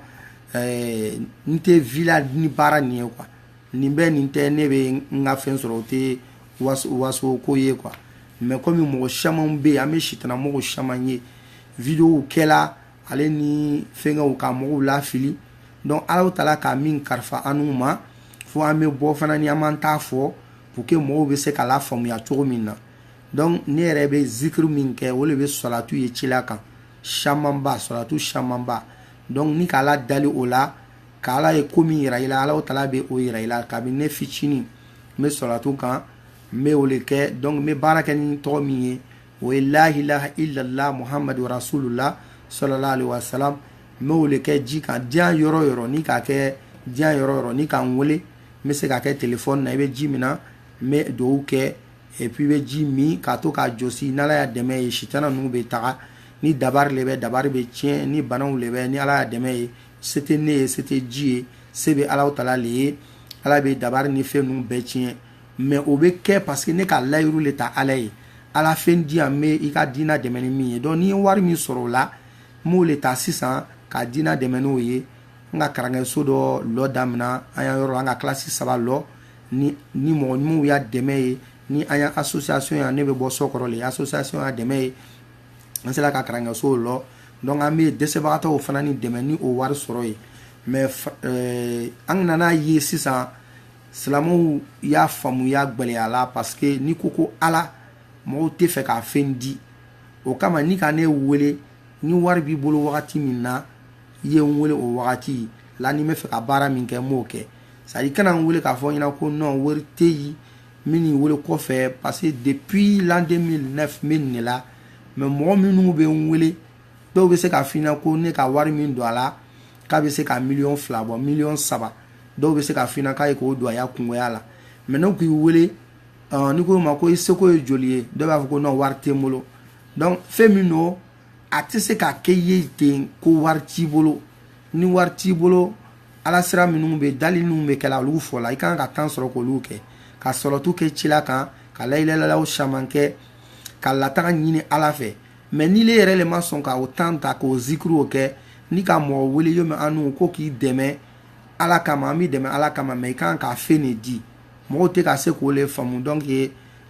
ɛɛ n tɛ vivre la ni baara nin ye quoi nin bɛ nin tɛ ne bɛ n ka fɛn sɔrɔ o tɛ waso waso ko ye quoi mais comme mɔgɔ camanw bɛ yen an bɛ sitana mɔgɔ caman ye videow kɛla ale ni fɛnkɛw ka mɔgɔw lafili donc alahu taala ka min karifa anu ma fo an bɛ bɔ fana ni an b'an ta fɔ pour que mɔgɔw bɛ se k'a lafaamuya cogo min na donc ne yɛrɛ bɛ zikiri min kɛ o de bɛ salatu ye cila kan camanba salatu camanba donc n'i k'ala dali o la ka ala ye ko min yira i la alahu taala bɛ o yira i la kabini ne fitinin n bɛ salatu kan n bɛ o le kɛ donc n bɛ baara kɛ ni tɔgɔ min ye o ye la ilaha illallah muhammadu rasulullah sallallahu alaihi wasallam n bɛ o le kɛ ji kan diɲɛ yɔrɔ o yɔrɔ n'i ka kɛ diɲɛ yɔrɔ o yɔrɔ n'i ka n wele n bɛ se k'a kɛ telefɔni na i bɛ ji mina n bɛ dugawu kɛ et puis i bɛ ji min k'a tɔ k'a jɔsi n'ala ya dɛmɛ ye sitana ninnu bɛ taga ni dabari le bɛ dabari bɛ tiɲɛ ni banaw le bɛ ni ala ya dɛmɛ ye se tɛ ne ye se tɛ ji ye se bɛ alahu taala le ye ala bɛ dabari ni fɛn ninnu bɛɛ tiɲɛ mais o bɛ kɛ parce que ne ka layiru le ta ala ye ala fɛn di yan n bɛ i ka diinɛ dɛmɛ ni min ye donc ni n ye wari min sɔrɔ o la n b'o le ta sisan ka diinɛ dɛmɛ n'o ye n ka kalanso dɔ lɔ daminɛ an ya yɔrɔ an ka kilasi saba lɔ ni mɔgɔ ɲumanw ya dɛmɛ ye ni an ya association yan ne bɛ bɔ sokoro le association ya dɛmɛ ye an sera ka kalanso lɔ donc an bɛ dɛsɛbagatɔw fana ni dɛmɛ ni o wari sɔrɔ ye mais an nana a ye sisan silamɛw ya faamuya gwɛlɛyala parce que n'i ko ko ala mɔgɔw tɛ fɛ ka fɛn di o kama n'i ka ne wele ni wari b'i bolo wagati min na i ye n wele o wagati la ni n bɛ fɛ ka baara min kɛ n b'o kɛ c'est-à-dire kana n wele k'a fɔ n ɲɛna ko non wari tɛ yen n bɛ n'i wele kɔfɛ parce que depuis l'an 2009 n bɛ nin de la mais mɔgɔ minnu bɛ n wele dɔw bɛ se k'a f'i ɲɛna ko ne ka wari min don a la k'a bɛ se ka miliyɔn fila bɔ miliyɔn saba dɔw bɛ se k'a f'i ɲɛna k'a ye k'o don a ya kungoya la mais ne k'i wele n'i ko a ma ko i seko ye joli ye dɔw b'a fɔ ko non wari tɛ n bolo donc fɛn min don a tɛ se ka kɛ i ye ten ko wari t'i bolo ni wari t'i bolo ala sira minnu bɛ dali minnu bɛ kɛla olu fɔ la i kan ka temps sɔrɔ k'olu kɛ ka salatu kɛ cila kan ka layilalaw caman kɛ ka latanga ɲini ala fɛ mais n'ile yɛrɛ le ma sɔn ka o temps ta k'o zikiriw kɛ n'i ka mɔgɔ wele yomi anu ko k'i dɛmɛ ala kama an b'i dɛmɛ ala kama mais i kan ka fɛn le di mɔgɔw tɛ ka se k'o le faamu donc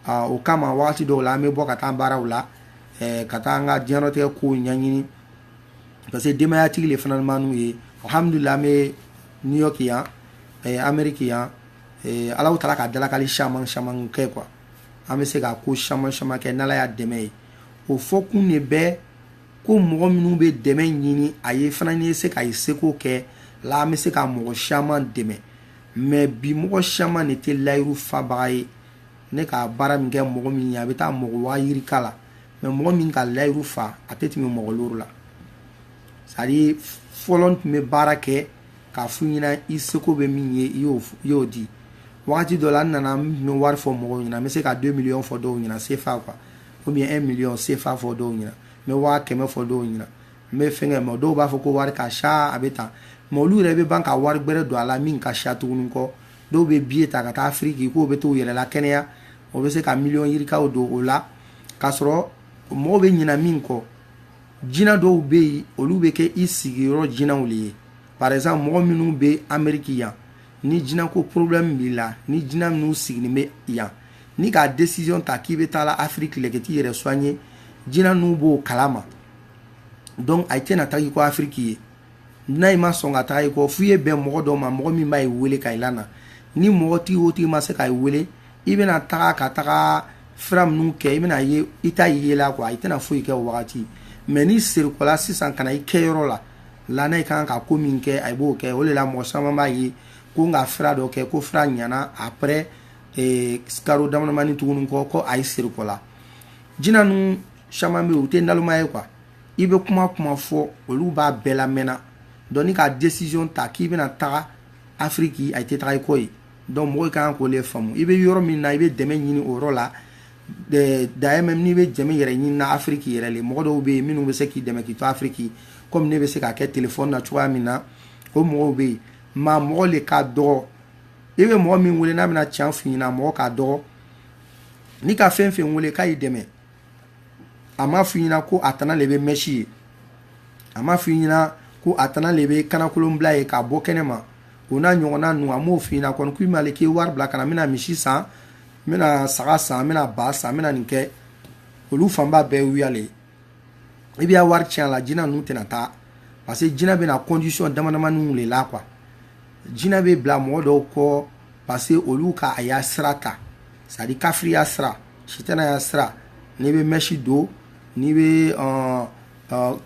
uh, o kama wagati dɔw la an bɛ bɔ ka taa baaraw la eh, ka taa an ka diɲɛnatigɛ kow ɲɛɲini parce que denbayatigi le fana b'anu ye alhamdulila an bɛ new york yan eh, ameriki yan eh, alahu taala ka dalakali caman caman kɛ quoi an bɛ se ka ko caman caman kɛ n'ala y'an dɛmɛ ye o fɔkun de bɛ ko mɔgɔ minnu bɛ dɛmɛ ɲini a ye fana n'i ye se ka i seko kɛ la an bɛ se ka mɔgɔ caman dɛmɛ mais bi mɔgɔ caman de tɛ layiru fabaga ye ne ka baara min kɛ mɔgɔ min ye a bɛ taa mɔgɔ waa yirika la mais mɔgɔ min ka layiru fa a tɛ tɛmɛ mɔgɔ loro la c'est à dire fɔlɔ n tun bɛ baara kɛ k'a f'u ɲɛna i seko bɛ min ye i y'o f- i y'o di wagati dɔ la n nana n tun bɛ wari fɔ mɔgɔw ɲɛna n bɛ se ka 2 miliyɔn fɔ dɔw ɲɛna sefa quoi ou bien 1 miliyɔn sefa fɔ dɔw ɲɛna n bɛ waa kɛmɛ fɔ dɔw ɲɛna n bɛ fɛnkɛ mais dɔw b'a fɔ ko wari ka ca a bɛ tan mais olu yɛrɛ bɛ ban ka wari gbɛrɛ don a la min ka ca tuguni kɔ dɔw bɛ biye ta ka taa afiriki k'o bɛ t'u yɛrɛ lakɛnɛya o bɛ se ka miliyɔn yirikaw don o la k'a sɔrɔ mɔgɔw bɛ ɲina min kɔ jina dɔw bɛ yen olu bɛ kɛ i sigiyɔrɔ jinaw de ye par exemple mɔgɔ minnu bɛ ameriki yan ni jinako problème b'i la ni jina minnu sigilen bɛ yan n'i ka décision ta k'i bɛ taa la afiriki le ka t'i yɛrɛ soigner jina ninnu b'o kalama donc a tɛna taa i kɔ afiriki yen n'a ma sɔn ka taa i kɔ f'i ye bɛn mɔgɔ dɔ ma mɔgɔ min b'ayi wele ka i lana ni mɔgɔ tigi o tigi ma se ka i wele i bɛna taga ka taga fura minnu kɛ i bɛna ye i t'a ye la quoi i tɛna foyi kɛ o wagati mais n'i serikɔla sisan ka na i kɛ yɔrɔ la lana i kan ka ko min kɛ a b'o kɛ o de la mɔgɔ caman b'a ye ko n ka fura dɔ kɛ ko fura ɲana après eh, karo damadamani tuguni kɔ ko a ye serikɔla jina ninnu caman bɛ yen u tɛ naloma ye quoi i bɛ kuma kuma fɔ olu b'a bɛɛ lamɛnna donc n'i ka desiziyɔn ta k'i bɛna taga afiriki a tɛ taga i kɔ yen donc mɔgɔw ka kan k'o le faamu i bɛ yɔrɔ min na i bɛ dɛmɛ ɲini o yɔrɔ la d'ailleurs même n'i bɛ dɛmɛ yɛrɛ ɲinina afiriki yɛrɛ le mɔgɔ dɔw bɛ yen minnu bɛ se k'i dɛmɛ k'i to afiriki kɔmi ne bɛ se k'a kɛ telefɔni na cogoya min na o mɔgɔw bɛ yen maa mɔgɔ le ka dɔgɔ i bɛ mɔgɔ min wele n'a bɛna can f'i ɲɛna mɔgɔ ka dɔgɔ n'i ka fɛn fɛn wele k'a y'i dɛmɛ a m'a f'i ɲɛna ko a tana le bɛ mèche ye a m'a f'i ɲɛna ko a tana le bɛ kanakolonbila ye k'a bɔ kɛnɛ ma o n'a ɲɔgɔnna ninnu a m'o f'i ɲɛna kɔni k'i ma le k'i wari bila ka na n bɛna misi san n bɛna saga san n bɛna ba san n bɛna nin kɛ olu fanba bɛɛ wuya le i bɛ wari tiɲɛ a la jinɛ ninnu tɛna taa parce que jinɛ bɛna condition damadamaniw le la quoi jinɛ bɛ bila mɔgɔ dɔw kɔ parce que olu ka a ya sira ta c'est à dire kafiriya sira sitanaya sira n'i bɛ mèche don n'i bɛ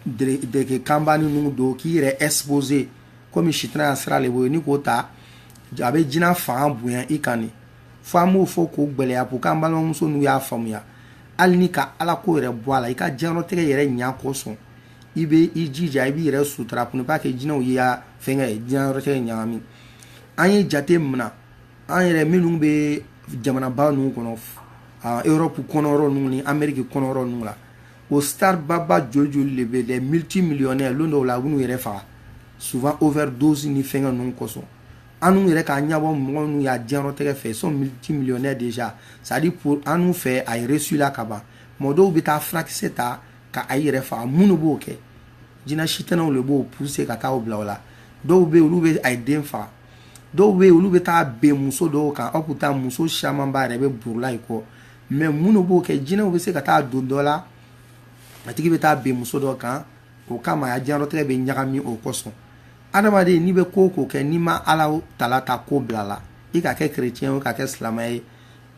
deke kanbani ninnu don k'i yɛrɛ exposer komi sitanaya sira de b'o ye n'i k'o ta a bɛ jina fanga bonya i kan nin fo an b'o fɔ k'o gɛlɛya pour que an balimamuso ninnu y'a faamuya hali n'i ka ala ko yɛrɛ bɔ a la i ka diɲɛlatigɛ yɛrɛ ɲɛ kosɔn i bɛ i jija i b'i yɛrɛ sutura pour ne pas que jinɛw y'i ya fɛnkɛ ye diɲɛlatigɛ ɲagami an ye jate minɛ an yɛrɛ minnu bɛ jamanaba ninnu kɔnɔ europe kɔnɔ yɔrɔ ninnu ni ameriki kɔnɔ yɔrɔ ninnu la o starbaba joli joli de bɛ des multimillionnaires lon dɔw la u b'u yɛrɛ faga souvent overdose ni fɛnkɛ ninnu kosɔn annu yɛrɛ ka ɲɛbɔ mɔgɔ minnu ya diɲɛlatigɛ fɛ ils sont multimillionnaires déjà c'est à dire pour annu fɛ a ye réussila ka ban mɔgɔ dɔw bɛ taa furakisɛ ta ka a yɛrɛ faga mun de b'o kɛ jinɛ sitanaw le b'o pousser ka taa o bila o la dɔw bɛ yen olu bɛ a ye den faga dɔw bɛ yen olu bɛ taa bɛn muso dɔw kan aw pourtant muso camanba yɛrɛ bɛ borila i kɔ mais mun le b'o kɛ jinɛw bɛ se ka taa don dɔ la a tigi bɛ taa bɛn muso dɔ kan o kama a diɲɛlatigɛ bɛ ɲagami o kosɔn adamaden n'i bɛ ko ko kɛ n'i ma ala taala ta ko bila la i ka kɛ kerecɛn ye ka kɛ silamɛ ye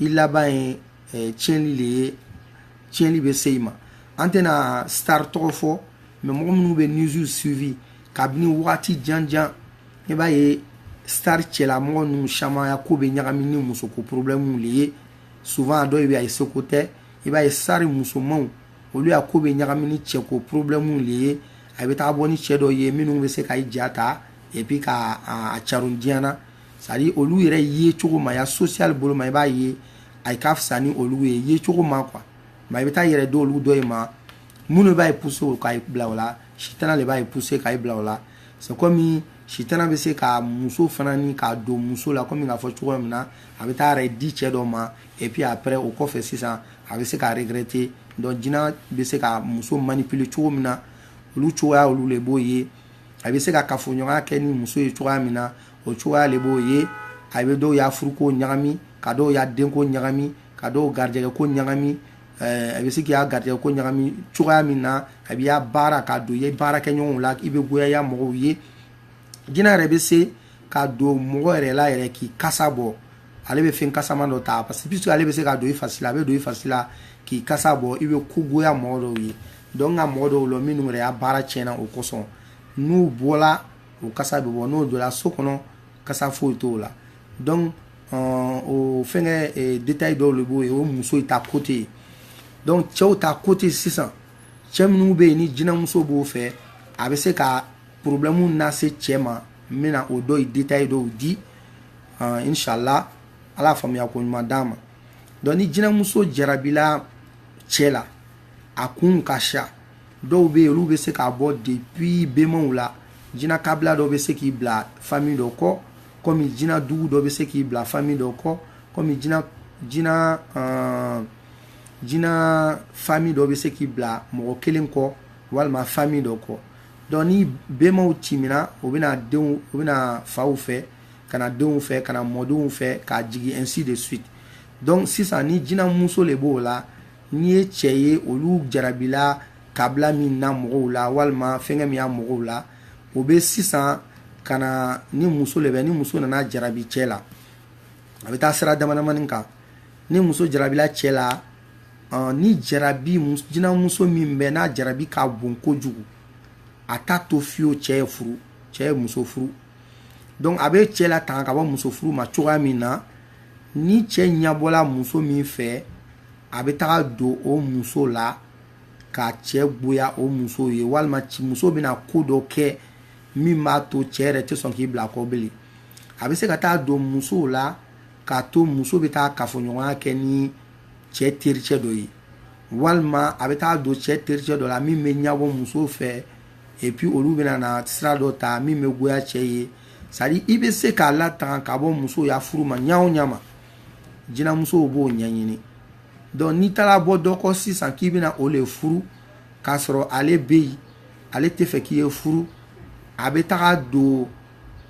i laban ye eh, tiɲɛni de ye tiɲɛni bɛ se i ma an tɛna star tɔgɔ fɔ mais mɔgɔ minnu bɛ news suivi kabini wagati janjan i b'a ye star cɛlamɔgɔ ninnu caman ya ko bɛ ɲagami ni musoko problɛmuw le ye souvent a dɔw bɛ a ye seko tɛ i b'a ye star musomanw olu ya ko bɛ ɲagami ni cɛko problɛmuw le ye a bɛ taa bɔ ni cɛ dɔ ye minnu bɛ se ka i ja ta et puis ka a caron diɲɛ na c'est à dire olu yɛrɛ yecogo maaya social bolo ma i b'a ye a ka fisa ni olu ye yecogo ma quoi mais i bɛ taa yɛrɛ di olu dɔ ye ma mun le b'a ye pousser o k'a bila o la sitana le b'a ye pousser k'a bila o la c'est comme sitana bɛ se ka muso fana ni ka don muso la komi k'a fɔ cogoya min na a bɛ taa yɛrɛ di cɛ dɔ ma et puis après o kɔfɛ sisan a bɛ se k'a regretter donc jinɛ bɛ se ka muso manipuler cogo min na olu cogoya olu le b'o ye a bɛ se ka kafoɲɔgɔnya kɛ ni muso ye cogoya min na o cogoya le b'o ye a bɛ dɔw ya furuko ɲagami ka dɔw ya denko ɲagami ka dɔw garijɛgɛko ɲagami Eh, a bɛ se k'i ya garijɛko ɲagami cogoya min na a b'i ya baara ka don i ye baarakɛɲɔgɔnw la i bɛ goyaya mɔgɔw ye jinɛ yɛrɛ bɛ se ka don mɔgɔ yɛrɛ la yɛrɛ k'i kasa bɔ ale bɛ fɛn kasama dɔ ta parce que puisque ale bɛ se ka don i fari la a bɛ don i fari la k'i kasa bɔ i bɛ ko goya mɔgɔ dɔw ye donc ka mɔgɔ dɔw lɔn minnu yɛrɛ ya baara tiɲɛna o kosɔn n'u bɔla o kasa bɛ bɔ n'o donna so kɔnɔ kasa foyi t'o la donc o fɛnkɛ eh, détail dɔw le b'o ye o muso ta côté ye donc cɛw ta côté sisan cɛ minnu bɛ yen ni jinɛmuso b'o fɛ a bɛ se ka problɛmu nase cɛ ma n bɛna o dɔ ye détail dɔw di inshallah ala faamuya ko ɲuman d'an ma donc ni jinɛmuso jarabila cɛ la a kun ka ca dɔw bɛ yen olu bɛ se ka bɔ depuis bɛmaw la jinɛ kabila dɔ bɛ se k'i bila famille dɔ kɔ kɔmi jina dugu dɔ bɛ se k'i bila fami dɔ kɔ kɔmi jina jina uh, jina fami dɔ bɛ se k'i bila mɔgɔ kelen kɔ walima fami dɔ kɔ donc ni bɛnbaw timina o bɛna denw o bɛna faw fɛ ka na denw fɛ ka na mɔdenw fɛ ka jigin ainsi de suite donc sisan ni jina muso le b'o la n'i ye cɛ ye olu jarabila kabila min na mɔgɔw la walima fɛnkɛ min ya mɔgɔw la o bɛ sisan ka na ni muso le bɛ ni muso nana jarabi cɛ la a bɛ taa sira damadamani kan ni muso jarabila cɛ la ni jarabi jinamuso min bɛ n'a jarabi ka bon kojugu a t'a to fiyewu cɛ ye furu cɛ ye muso furu donc a bɛ cɛ latanga ka bɔ muso furu ma cogoya min na ni cɛ ɲɛbɔla muso min fɛ a bɛ taga don o muso la ka cɛ goya o muso ye walima muso bɛna ko dɔ kɛ min b'a to cɛ yɛrɛ tɛ sɔn k'i bila a kɔ bilen a bɛ se ka taa don musow la k'a to muso bɛ taa kafoɲɔgɔnya kɛ ni cɛ tericɛ dɔ ye walima a bɛ taa don cɛ tericɛ dɔ la min bɛ ɲɛbɔ muso fɛ et puis olu bɛna na sira dɔ ta min bɛ goya cɛ ye c'est-à-dire i bɛ se k'a latanga ka bɔ muso ya furu ma ɲa o ɲa ma jinamusow b'o ɲɛɲini donc n'i taara bɔ dɔ kɔ sisan k'i bɛna o le furu k'a sɔrɔ ale bɛ yen ale tɛ fɛ k'i ye furu a bɛ taga don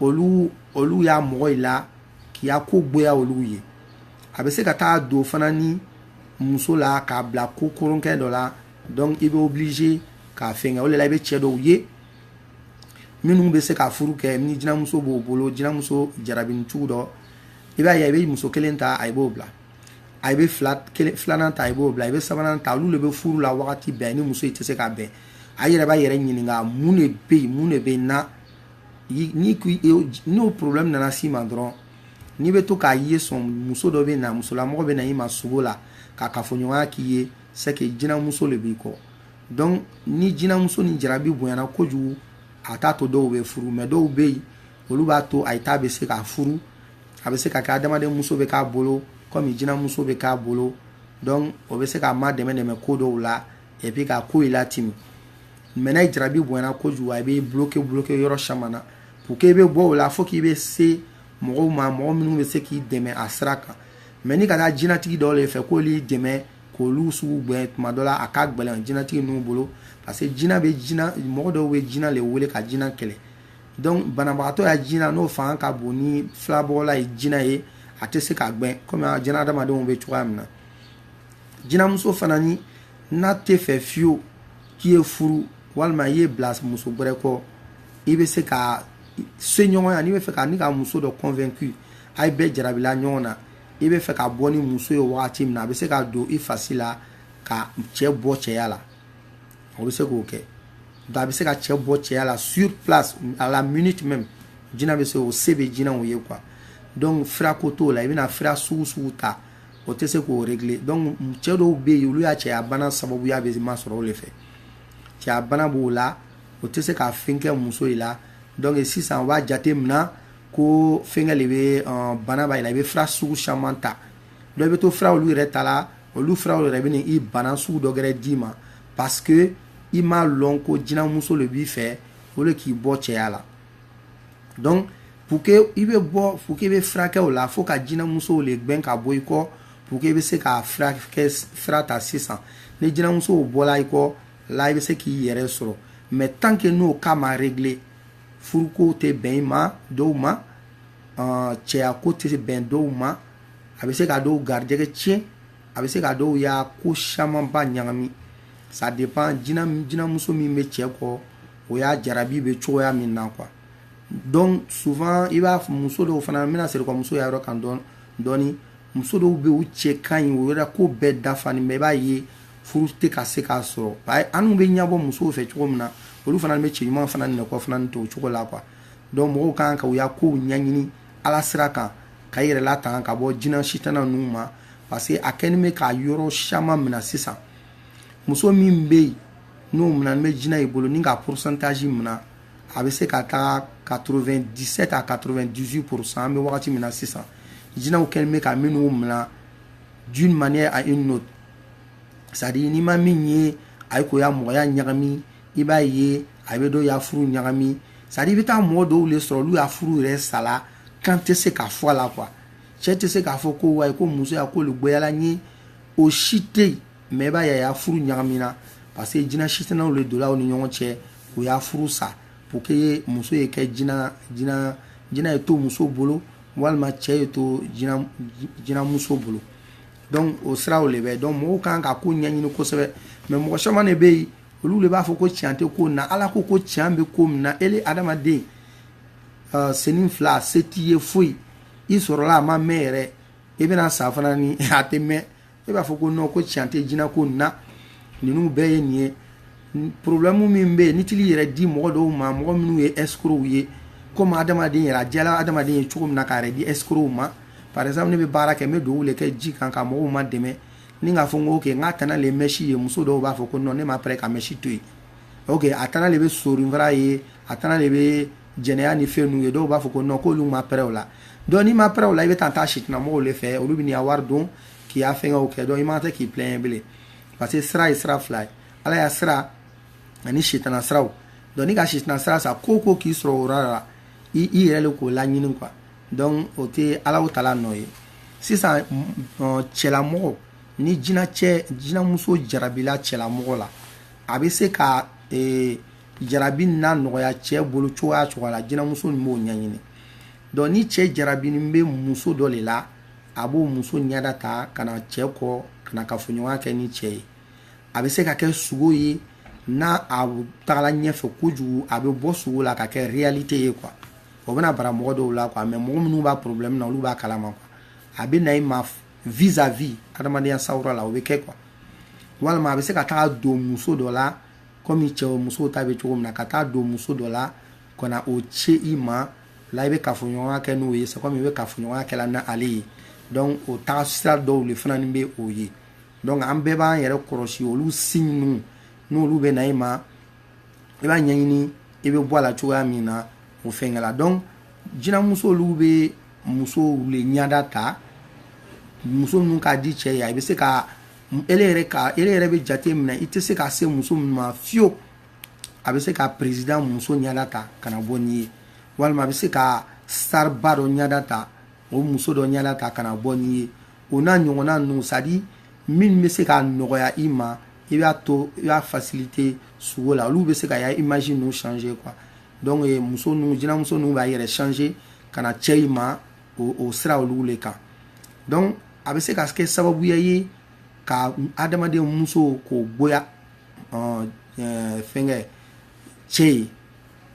olu ya mɔgɔw la k'i ya ko goya olu ye a bɛ se ka taa don fana ni muso la k'a bila ko kolonkɛ dɔ la donc i bɛ obligé k'a fɛngɛ o de la i bɛ cɛ dɔw ye minnu bɛ se ka furu kɛ ni jinamuso b'o bolo jinamuso jarabini cogo dɔ i b'a ye i bɛ muso kelen ta a i b'o bila a bɛ filanan ta i b'o bila i bɛ sabanan ta olu de bɛ furu la wagati bɛɛ ni muso i tɛ se ka bɛn a yɛrɛ b'a yɛrɛ ɲininka mun de bɛ yen mun de bɛ na ni n'o problème nana s'i ma dɔrɔn n'i bɛ to k'a ye sɔn muso dɔ bɛ na musolamɔgɔ bɛ na i ma sugo la ka kafoɲɔgɔnya k'i ye c'est que jinamuso le b'i kɔ donc ni jinamuso ni jarabi bonyana kojugu a t'a to dɔw bɛ furu mais dɔw bɛ yen olu b'a to a ye t'a bɛ se ka furu a bɛ se ka kɛ adamaden muso bɛ k'a bolo kɔmi jinamuso bɛ k'a bolo donc o bɛ se k'a ma dɛmɛ dɛmɛ ko dɔw la et puis ka kow latimi mais n'a jarabi bonyana kojugu a bɛ bloqué bloqué yɔrɔ caman na pour que i bɛ bɔ o la fo k'i bɛ se mɔgɔw ma mɔgɔ minnu bɛ se k'i dɛmɛ a sira kan mais ni ka taa jinatigi dɔw le fɛ k'olu dɛmɛ k'olu sugu gɛn tuma dɔ la a ka gɛlɛn jinatigi ninnu bolo parce que jina bɛ mɔgɔ dɔw bɛ jina le wele ka jina kɛlɛ donc banabagatɔ ya jina n'o fanga ka bon ni filabɔla ya jina ye a tɛ se ka gbɛn komi jina adamadenw bɛ cogoya min na jinamuso fana ni n'a tɛ fɛ fiyewu k'i ye furu walima i ye bila muso wɛrɛ kɔ i bɛ se ka se ɲɔgɔn ya n'i bɛ fɛ ka ni ka muso dɔ convaincu a ye bɛɛ jarabila ɲɔgɔn na i bɛ fɛ ka bɔ ni muso ye wagati min na a bɛ se ka don i fasi la ka cɛ bɔ cɛya la o bɛ se k'o kɛ nka a bɛ se ka cɛ bɔ cɛya la sur place à la minute même jina bɛ se o se bɛ jinaw ye quoi donc fira ko t'o la i bɛna fira sugu sugu ta o tɛ se k'o régler donc cɛ dɔw bɛ yen olu ya cɛya bana sababuya bɛ masɔrɔ o de fɛ cɛya bana b'o la o tɛ se ka fɛn kɛ muso in la donc sisan u b'a jate minɛ ko fɛnkɛ le bɛ bana b'a la i bɛ fira sugu caman ta donc i bɛ to fira olu yɛrɛ ta la olu firaw yɛrɛ bɛ i bana sugu dɔ gɛrɛ d'i ma parce que i m'a lɔn ko jinamuso le b'i fɛ o le k'i bɔ cɛya la donc pour que i bɛ bɔ pour que i bɛ furakɛ o la fo ka jinamusow le gbɛn ka bɔ i kɔ pour que i bɛ se ka fira ta sisan ni jinamusow bɔla i kɔ la i bɛ se k'i yɛrɛ sɔrɔ mais tant que n'o cas ma régler furuko tɛ bɛn i ma dɔw ma cɛyako tɛ bɛn dɔw ma a bɛ se ka dɔw garijɛgɛ tiɲɛ a bɛ se ka dɔw ya ko camanba ɲagami ça dépend jinamuso min bɛ cɛ kɔ o ya jarabi bɛ cogoya min na quoi donc souvent i b'a muso dɔw fana n bɛna segi kɔ muso ya yɔrɔ kan dɔɔni muso dɔw bɛ u cɛ ka ɲi o yɛrɛ ko bɛɛ dafanin bɛ i b'a ye furu tɛ ka se k'a sɔrɔ anw bɛ ɲɛbɔ musow fɛ cogo min na olu fana bɛ cɛ ɲuman fana nɛgɛ fana to o cogo la quoi donc mɔgɔw kan ka u ya kow ɲɛɲini ala sira kan ka i yɛrɛ latanga ka bɔ jina sitana ninnu ma parce que a kɛnin bɛ ka yɔrɔ caman minɛ sisan muso min bɛ yen n'o minɛnin bɛ jina i bolo ni ka pourcentage minɛ a bɛ se ka taa 97 à 98 pourcent an bɛ wagati min na sisan jinaw kɛlen bɛ ka minnu minɛ d'une manière à une autre c'est à dire n'i ma min ye a ye k'o ya mɔgɔya ɲagami i b'a ye a bɛ dɔ ya furu ɲagami c'est à dire i bɛ taa mɔgɔ dɔw le sɔrɔ olu ya furu yɛrɛ sala kun tɛ se ka fɔ a la quoi cɛ tɛ se k'a fɔ ko wayi ko muso ya ko le goyala n ye o si tɛ yen mais i b'a ye a ya furu ɲagamina parce que jina sitanaw le donna u ni ɲɔgɔn cɛ u ya furu sa pour que muso ye kɛ jina jina jina ye to muso bolo walima cɛ ye to jina jinamuso bolo donc o siraw le bɛ donc mɔgɔw kan ka ko ɲɛɲini kosɛbɛ mais mɔgɔ caman de bɛ yen olu de b'a fɔ ko tiɲɛ tɛ ko na ala ko ko tiɲɛ bɛ ko min na ele adamaden uh, senin fila se t'i ye foyi i sɔrɔla a ma mɛn yɛrɛ i bɛna sa fana ni a tɛ mɛn e b'a fɔ ko non ko tiɲɛ tɛ jinɛ ko nin na ninnu bɛɛ ye nin ye problɛmu min bɛ yen ni tili yɛrɛ di mɔgɔ dɔw ma mɔgɔ minnu ye escrocs ye komi adamaden yɛrɛ a diyala adamaden ye cogo min na k'a yɛrɛ di escrocs ma par exemple ne bɛ baara kɛ n bɛ duwawu de kɛ ji kan ka mɔgɔw ma dɛmɛ n'i k'a fɔ n ko ok n k'a tana le ye mɛsi ye muso dɔw b'a fɔ ko non ne ma pɛrɛ ka mɛsi to yen ok a tana le bɛ sɔninfara ye a tana le bɛ jɛnɛya ni fɛn ninnu ye dɔw b'a fɔ ko non k'olu ma pɛrɛ o la donc n'i ma pɛrɛ o la i bɛ taa taa sitanamɔgɔw le fɛ olu bɛn'i ka wari dun k'i ka fɛngɛw kɛ donc i man tɛ k'i plaindre bilen parce que sira ye sira fila ye ala ya sira ani sitana siraw donc n'i ka sitana sira ta ko ko k'i sɔrɔ o yɔrɔ la i i yɛrɛ le k'o laɲini quoi donc o tɛ ala tala nɔ ye sisan cɛlamɔgɔ ni jinɛcɛ jinɛmuso jarabila cɛlamɔgɔ la a bɛ se ka jarabi na nɔgɔya cɛ bolo cogoya cogoya la jinɛmuso in b'o ɲɛɲini donc ni cɛ jarabinin bɛ muso dɔ le la a b'o muso ɲɛda ta ka na cɛ kɔ ka na kafoɲɔgɔnya kɛ ni cɛ ye a bɛ se ka kɛ sugo ye n'a a tagala ɲɛfɛ kojugu a bɛ bɔ sugo la ka kɛ réalité ye quoi o bɛna bara mɔgɔ dɔw la quoi mais mɔgɔ minnu b'a problème na olu b'a kalama quoi a bɛ na i ma vis à vis adamadenya sawura la o bɛ kɛ quoi walima a bɛ se ka taa don muso dɔ la komi cɛ musow ta bɛ cogo min na ka taa don muso dɔ la ka na o ci i ma la i bɛ kafoɲɔgɔnya kɛ n'o ye c'est comme i bɛ kafoɲɔgɔnya kɛla n'ale ye donc o taga sira dɔw de fana bɛ o ye donc an bɛɛ b'an yɛrɛ kɔlɔsi olu signe ninnu n'olu bɛ na i ma i b'a ɲɛɲini i bɛ bɔ a la cogoya min na o fɛnkɛ la donc jinamuso olu bɛ musow le ɲada ta muso minnu ka di cɛ ye a bɛ se ka ele yɛrɛ ka ele yɛrɛ bɛ jate minɛ i tɛ se ka se muso min ma fiyewu a bɛ se ka président muso ɲada ta ka na bɔ n'i ye walima a bɛ se ka star ba dɔ ɲada ta o muso dɔ ɲɛda ta ka na bɔ n'i ye o n'a ɲɔgɔnna ninnu c'est à dire min bɛ se ka nɔgɔya i ma i b'a to i b'a faciliter sugo la olu bɛ se ka ya image ninnu changer quoi donc eh, muso ninnu jinɛmuso ninnu b'a yɛrɛ changer ka na cɛ i ma o o sira olu le kan donc a bɛ se ka kɛ sababuya ye ka adamaden muso ko goya ɔn eh, fɛnkɛ cɛ ye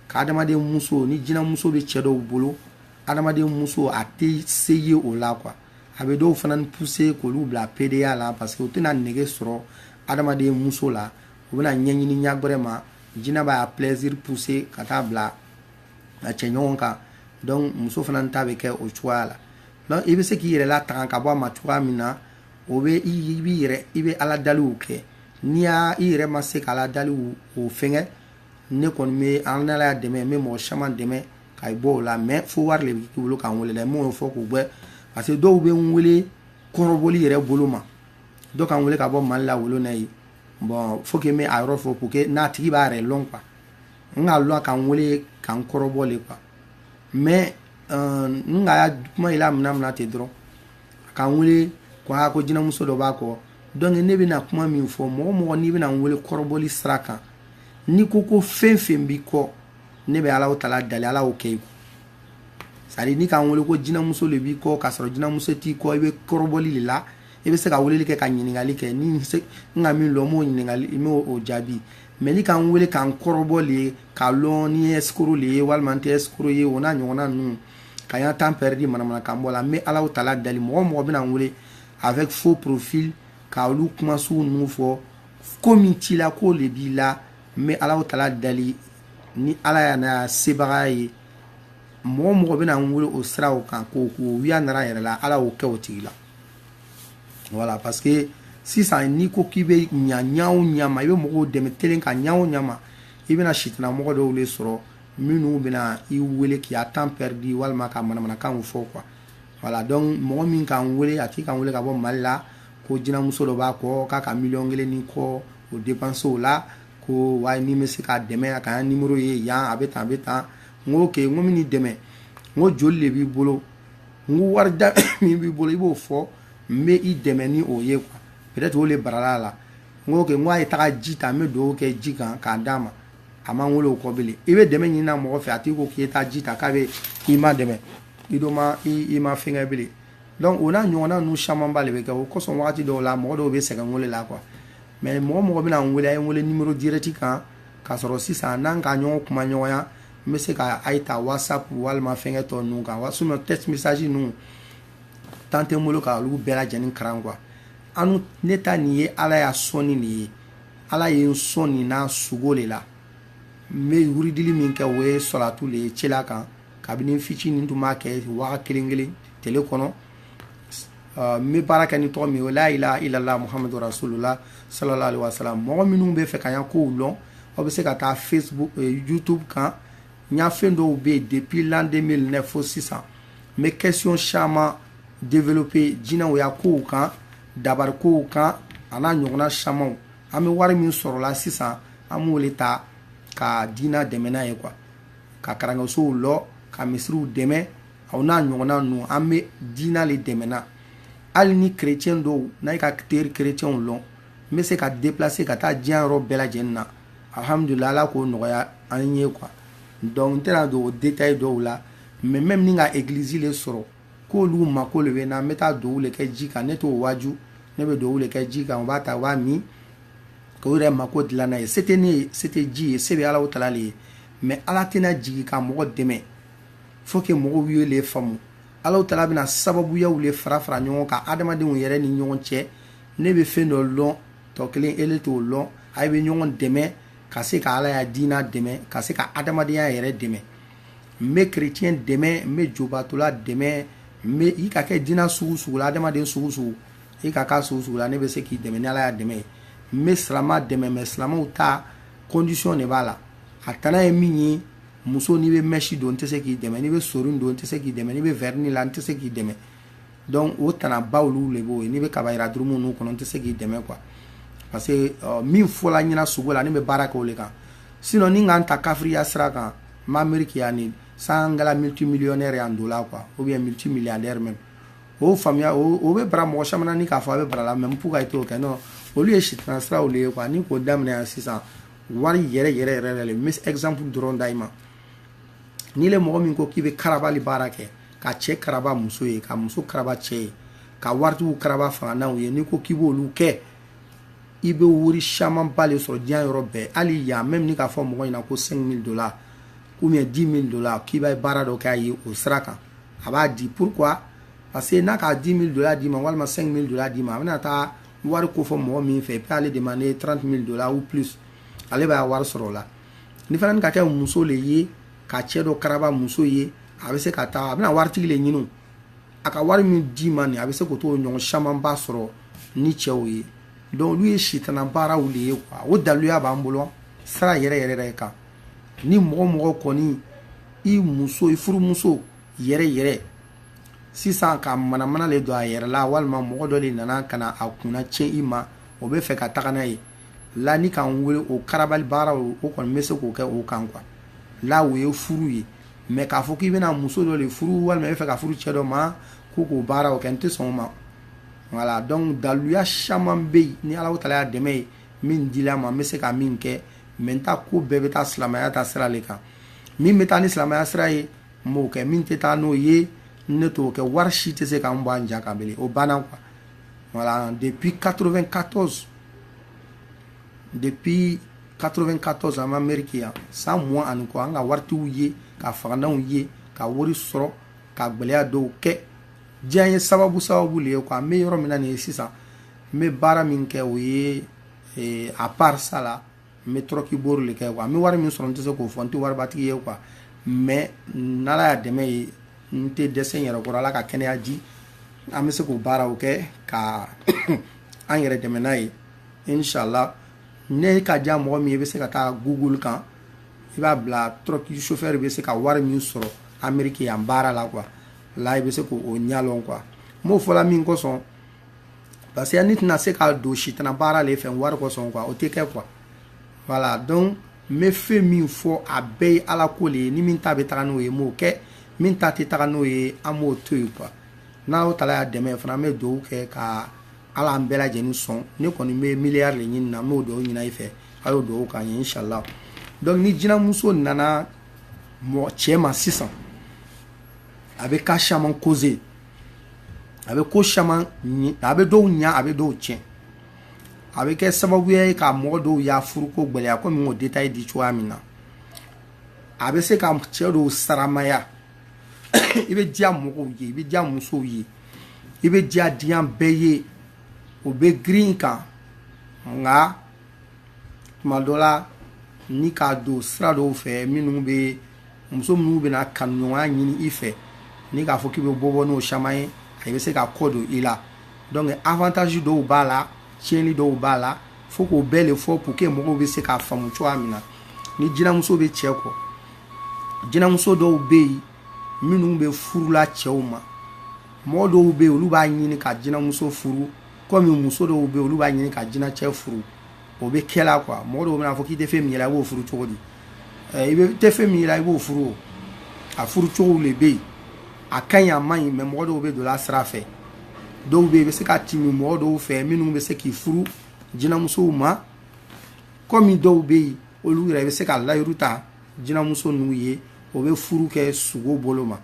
ka adamaden muso ni jinɛmuso bɛ cɛ dɔw bolo adamaden muso a tɛ se ye o la quoi a bɛ dɔw fana pousser k'olu bila pédéya la parce que u tɛna nege sɔrɔ adamaden muso la u bɛna ɲɛɲini ɲagɛrɛ ma jina b'a plaisir pousser ka taa bila a cɛ ɲɔgɔn kan donc muso fana ta bɛ kɛ o cogoya la donc i bɛ se k'i yɛrɛ latanga ka bɔ a ma cogoya min na o bɛ i b'i yɛrɛ i bɛ ala daliw kɛ n'i y'a i yɛrɛ ma se k'ala daliw o fɛnkɛ ne kɔni bɛ an ala y'a dɛmɛ n bɛ mɔgɔ caman dɛmɛ ka i bɔ o la mais fo wari de bɛ k'i bolo k'an wele dɛ n m'o fɔ k'u bɛɛ parce que dɔw bɛ n wele kɔrɔbɔli yɛrɛ bolo ma dɔ k'an wele ka bɔ mali la wolo na ye bon faut que n bɛ a yɔrɔ fɔ pour que n'a tigi b'a yɛrɛ lɔn quoi n k'a lɔn k'an wele k'an kɔrɔbɔ le quoi mais euh, n ka kuma yɛlɛ mina mina ten dɔrɔn k'an wele ko a ko jinamuso dɔ b'a kɔ donc ne bɛna kuma min fɔ mɔgɔ mɔgɔ n'i bɛna n wele kɔrɔbɔli sira kan n'i ko ko fɛn fɛn b'i kɔ ne bɛ alaw tala dali ala y'o kɛ i kun c'est-à-dire ni k'an wele ko jinamuso de b'i kɔ k'a sɔrɔ jinamuso t'i kɔ i bɛ kɔrɔbɔli de la i bɛ se ka weleli kɛ ka ɲininkali kɛ ni n ka min lɔn n b'o ɲininkali n b'o o jaabi mais ni k'an wele k'an kɔrɔbɔ le ye k'a lɔn ni n ye escroc le ye walima n tɛ escroc ye o n'a ɲɔgɔnna ninnu ka y'an temps perdu manamanakan bɔ la n bɛ alaw tala dali mɔgɔ mɔgɔ bɛna n wele avec faux profil ka olu kuma suw ninnu fɔ ko min t'i la k'o le b'i la n bɛ alaw tala dali ni ala y'a na sebagaya ye mɔgɔ mɔgɔ bɛna n wele o sira o kan k'o k'o wiya nara yɛrɛ la ala y'o kɛ o tigi la voilà parce que sisan n'i ko k'i bɛ ɲa ɲa o ɲa ma i bɛ mɔgɔw dɛmɛ telen ka ɲa o ɲa ma i bɛna sitanamɔgɔ dɔw de sɔrɔ minnu bɛna i wele k'i a temps perdu walima ka manamanakanw fɔ quoi voilà donc mɔgɔ min k'an wele a tigi k'an wele ka bɔ mali la ko jinamuso dɔ b'a kɔ k'a ka miliyɔn kelen ni kɔ o dépense o la ko waaye ni n bɛ se k'a dɛmɛ a ka numéro ye yan a bɛ tan a bɛ tan n ko ok n ko n bɛn'i dɛmɛ n ko joli de b'i bolo n ko wari da min b'i bolo i b'o fɔ n bɛ i dɛmɛ ni o ye quoi peut-être o de barala a la n ko ok n ko a ye taga ji ta n bɛ dugawu kɛ ji kan k'a d'a ma a ma n wele o kɔ bilen i bɛ dɛmɛ ɲinina mɔgɔ fɛ a tigi ko k'i ye taa ji ta k'a bɛ i madɛmɛ i dɔ ma i ma fɛnkɛ bilen donc o n'a ɲɔgɔnna ninnu camanba de bɛ kɛ o kosɔn wagati dɔw la mɔgɔ dɔw bɛ sɛgɛn wele la quoi mais mɔgɔ mɔgɔ bɛna n wele a ye n wele numéro direct kan k'a sɔrɔ sisan n'an ka ɲɔgɔn kuma ɲɔgɔnya n bɛ se ka a ye ta whatsapp walima fɛnkɛ tɔ ninnu kan sinon texte message ninnu temps tɛ n bolo ka olu bɛɛ lajɛlen karan quoi anu ne ta nin ye ala ya sɔnni de ye ala ye n sɔn nin na sugo de la n bɛ wuridili min kɛ o ye sɔlatu de ye cela kan kabini fitini n tun b'a kɛ waa kelen kelen tele kɔnɔ ah, n bɛ baara kɛ ni tɔgɔ min ye o la ilaha illallah muhamadu rasulullah sallallahu alaihi wasallam mɔgɔ minnu bɛ fɛ ka n ya kow lɔn o bɛ se ka taa facebook eh, youtube kan n ya fɛn dɔw bɛ yen depuis l'an 2009 fo sisan n bɛ question caman développer jinaw ya kow kan dabari kow kan a n'a ɲɔgɔnna camanw an bɛ wari min sɔrɔla sisan an b'o le ta ka diina dɛmɛ n'a ye quoi ka karansow lɔ ka misiriw dɛmɛ o n'a ɲɔgɔnna ninnu an bɛ diina le dɛmɛna hali ni kerecɛn dɔw n'a ye ka teri kerecɛnw lɔn n bɛ se ka deplase ka taa diɲɛ yɔrɔ bɛɛ lajɛlen na alhamdulila ala k'o nɔgɔya an ye quoi donc n tɛna don o detaye dɔw la mais même ni n ka eglizi le sɔrɔ k'olu mako le bɛ n na n bɛ taa dɔw le kɛ ji kan ne t'o waaju ne bɛ dɔw le kɛ ji kan u b'a ta u b'a min k'u yɛrɛ mako dilan n'a ye se tɛ ne ye se tɛ ji ye se bɛ ala taala le ye mais ala tɛna jigi ka mɔgɔ dɛmɛ faut que mɔgɔw ye le faamu alahu taala bɛna sababuyaw le fara fara ɲɔgɔn kan adamadenw yɛrɛ ni ɲɔgɔn cɛ ne bɛ fɛn dɔ lɔn tɔ kelen ele t'o lɔn ayi bɛ ɲɔgɔn dɛmɛ ka se ka ala ya diina dɛmɛ ka se ka adamadenya yɛrɛ dɛmɛ n bɛ kerecɛn dɛmɛ n bɛ jobatola dɛmɛ n bɛ i ka kɛ diina sugu sugu la adamaden sugu sugu i ka k'a sugu sugu la ne bɛ se k'i dɛmɛ ni ala ya dɛmɛ ye n bɛ silama dɛmɛ mais silamaw ta condition de b'a la a tana ye min ye muso n'i bɛ mèche don n tɛ se k'i dɛmɛ n'i bɛ sɔnin don n tɛ se k'i dɛmɛ n'i bɛ vernis la n tɛ se k'i dɛmɛ donc o tanaba olu le b'o ye n'i bɛ kaba yira durumu ninnu kɔnɔ n tɛ se k'i dɛmɛ quoi parce que euh, min fɔla n ɲɛna sugo la ne bɛ baara kɛ o le kan sinon ni n ka n ta kafiriya sira kan n b'a miiri ko yanni san n kɛla multimillionnaire ye en dollar quoi ou bien multimilliardaire même o faamuya o bɛ bara mɔgɔ caman na ni n k'a fɔ a bɛ bara la mais pourquoi i t'o kɛ non olu ye sitana siraw le ye quoi ni n k'o daminɛ yan sisan wari yɛrɛ yɛrɛ yɛrɛ yɛrɛ le n bɛ exemple dɔrɔn d'ayi ma n'i le mɔgɔ min ko k'i bɛ karabali baara kɛ ka cɛ karaba muso ye ka muso karaba cɛ ye ka waritigiw karaba fangantanw ye n'i ko k'i b'olu kɛ i bɛ wari camanba le sɔrɔ diɲɛ yɔrɔ bɛɛ hali yan même n'i k'a fɔ mɔgɔ ɲɛna ko 5000 dollars ou bien 10000 dollars k'i bɛ baara dɔ k'a ye o sira kan a b'a di pourquoi parce que n'a ka 10000 dollars d'i ma walima 5000 dollars d'i ma a bɛna taa wari ko fɔ mɔgɔ min fɛ a b'ale demander 30 mille dollars ou plus ale b'a wari sɔrɔ o la ni fana ka kɛ muso le ye ka cɛ dɔ karaba muso ye a bɛ se ka taa a bɛna waritigi le ɲini a ka wari min d'i ma nin a bɛ se k'o tɔɲɔgɔn camanba sɔrɔ ni cɛw ye donc olu ye sitana baaraw le ye quoi o daluya b'an bolo sira yɛrɛ yɛrɛ yɛrɛ kan ni mɔgɔ mɔgɔ kɔni i muso i furumuso yɛrɛ yɛrɛ sisan ka manamana le don a yɛrɛ la walima mɔgɔ dɔ le nana ka na a kunna tiɲɛ i ma o bɛ fɛ ka taga n'a ye la ni k'an wele o karabali baara o o kɔni n bɛ se k'o kɛ o kan quoi là o ye furu ye mais k'a fɔ k'i bɛna muso dɔ le furu walima i bɛ fɛ ka furu cɛ dɔ ma ko k'o baara o kɛ n tɛ sɔn o ma voilà donc daluya caman bɛ yen ni ala taala ya dɛmɛ ye min dila n ma n bɛ se ka min kɛ mais n ta ko bɛɛ bɛ taa silamɛya ta sira le kan min bɛ taa ni silamɛya sira ye n b'o kɛ min tɛ taa n'o ye ne t'o kɛ wari si tɛ se k'an bɔ an ja kan bilen o banna quoi voilà depuis 94 depuis 94 an bɛ ameriki yan san mugan ani kɔ an ka waritiw ye ka fagantanw ye ka wari sɔrɔ ka gwɛlɛya dɔw kɛ diɲɛ ye sababu sababu le ye quoi n bɛ yɔrɔ min na nin ye sisan n bɛ baara min kɛ o ye eh, à part ça là n bɛ tɔrɔki bori le kɛ quoi n bɛ wari min sɔrɔ n tɛ se k'o fɔ n tɛ waribatigi ye quoi mais n'ala ya dɛmɛ ye n tɛ dɛsɛ n yɛrɛ kɔrɔ ala ka kɛnɛya di an bɛ se k'o baaraw kɛ ka an yɛrɛ dɛmɛ n'a ye inshallah n'a ka diya mɔgɔ min ye i bɛ se ka taa google kan i b'a bila tɔrɔki chauffeur bɛ se ka wari min sɔrɔ ameriki yan baara la quoi là i bɛ se k'o ɲalɔn quoi n b'o fɔla min kosɔn parce que ne tɛna se ka don sitana baara le fɛ wari kosɔn quoi o tɛ kɛ quoi voilà donc n bɛ fɛn min fɔ a bɛɛ ye ala ko le ye ni min ta bɛ taga n'o ye n b'o kɛ min ta tɛ taga n'o ye an b'o to yen quoi n'ala taala ya dɛmɛ fana an bɛ dugawu kɛ ka ala an bɛɛ lajɛlen sɔn ne kɔni bɛ miliyari le ɲini na n b'o dugawu ɲini i fɛ a y'o dugawu k'an ye inshallah donc ni jinamuso nana cɛ ma sisan a bɛ ka caman causer a bɛ ko caman a bɛ dɔw ɲa a bɛ dɔw tiɲɛ a bɛ kɛ sababuya ye ka mɔgɔ dɔw ya furuko gwɛlɛya kɔmi o détail di cogoya min na a bɛ se ka cɛ dɔw saramaya i bɛ diya mɔgɔw ye i bɛ diya musow ye i bɛ diya diɲɛ bɛɛ ye o bɛ girin i kan nka tuma dɔ la n'i ka don sira dɔw fɛ minnu bɛ muso minnu bɛna kanuɲɔgɔnya ɲini i fɛ n'i k'a fɔ k'i bɛ bɔ bɔ n'o caman ye a bɛ se ka kɔ don i la donc avantage dɔw b'a la tiɲɛni dɔw b'a la fo k'o bɛɛ le fɔ pour que mɔgɔw bɛ se k'a faamu cogoya min na ni jinamuso bɛ cɛ kɔ jinamuso dɔw bɛ yen minnu bɛ furula cɛw ma mɔgɔ dɔw bɛ yen olu b'a ɲini ka jinamuso furu kɔmi muso dɔw bɛ olu b'a ɲini ka jinacɛ furu o bɛ kɛla quoi mɔgɔ dɔw bɛn'a fɔ k'i tɛ fɛn min ye i b'o furu cogo di i tɛ fɛn min ye i b'o furu o a furu cogo le bɛ yen a ka ɲi a man ɲi mais mɔgɔ dɔw bɛ don a sira fɛ dɔw bɛ yen i bɛ se ka timi mɔgɔ dɔw fɛ minnu bɛ se k'i furu jinamusow ma kɔmi dɔw bɛ yen olu yɛrɛ bɛ se ka layiru ta jinamuso ninnu ye o bɛ furu kɛ sugo bolo ma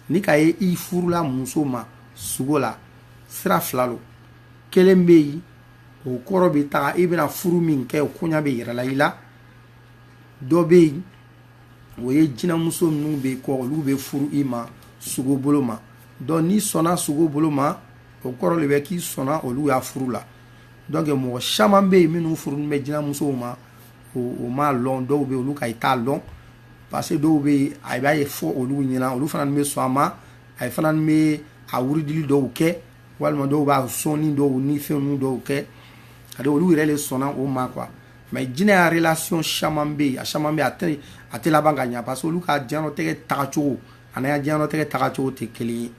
n'i k'a ye i furula muso ma sugo la sira fila lo kelen bɛ yen o kɔrɔ bɛ taga i bɛna furu min kɛ o koɲa bɛ yirala i la dɔ bɛ yen o ye jinamuso minnu b'i kɔ olu bɛ furu i ma sugo bolo ma donc n'i sɔnna sugo bolo ma o kɔrɔ le bɛ k'i sɔnna olu ya furu la donc mɔgɔ caman bɛ yen minnu furunin bɛ jinamusow ma o m'a lɔn dɔw bɛ olu ka i t'a lɔn parce que dɔw bɛ yen a b'a ye fɔ olu ɲɛna olu fana bɛ sɔn a ma a fana bɛ a wuridili dɔw kɛ walima dɔw b'a sɔnni dɔw ni fɛn dɔw kɛ a olu yɛrɛ le sɔnna o ma quoi mais jinɛ ya relation caman bɛ yen a caman bɛ a tɛ a tɛ laban ka ɲɛ parce que olu ka diɲɛlatigɛ tagacogo an'i ka diɲɛlatigɛ tagacogo tɛ kelen ye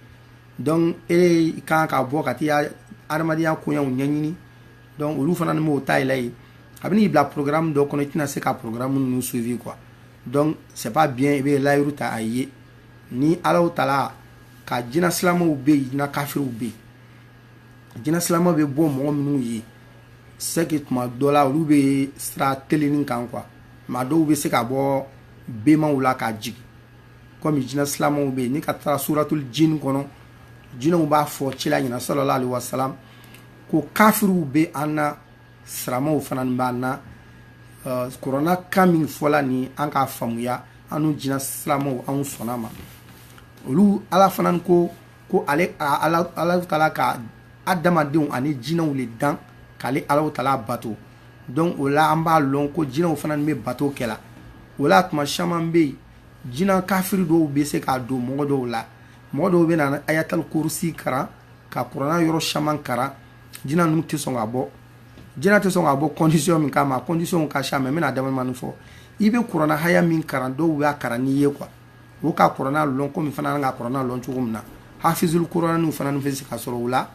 donc e kan ka bɔ ka t'i ka adamadenya koɲɛw ɲɛɲini donc olu fana ni m'o ta yɛlɛ ye a bɛn'i bila programme dɔ kɔnɔ i tɛna se ka programme ninnu suivi quoi donc c'est pas bien i bɛ layiru ta a ye ni alahu taala ka jinɛ silamɛw bɛ yen jinɛ kafiriw bɛ yen jinɛ silamɛw bɛ bɔ mɔgɔ minnu ye c'est que tuma dɔ la olu bɛ sira telennin kan quoi maa dɔw bɛ se ka bɔ bemaw la ka jigin komi jinɛ silamɛw bɛ yen n'i ka taara suratul jin kɔnɔ jinɛw b'a fɔ cila ɲɛna sallallahu alaihi wasallam ko kafiriw bɛ an na silamaw fana b'an na kurana kan min fɔla ni an k'a faamuya an n'u jina silamaw anw sɔnna ma olu ala fana ko ko ale ala taala ka adamadenw ani jinɛw le dan k'ale ala taala bato donc o la an b'a lɔn ko jinɛw fana bɛ bato kɛla o la tuma caman bɛ yen jinɛ kafiri dɔw bɛ se ka don mɔgɔ dɔw la mɔgɔ dɔw bɛna ayatal kurusi karan ka kurana yɔrɔ caman karan jinɛ ninnu tɛ sɔn ka bɔ jinɛ tɛ sɔn ka bɔ condition min kama conditionw ka ca mais n bɛna damanin fɔ i bɛ kurana aya min karan dɔw b'a karan n'i ye quoi o ka kurana lɔn komi i fana ka kurana lɔn cogo min na hafizul kuraniw fana bɛ se ka sɔrɔ u la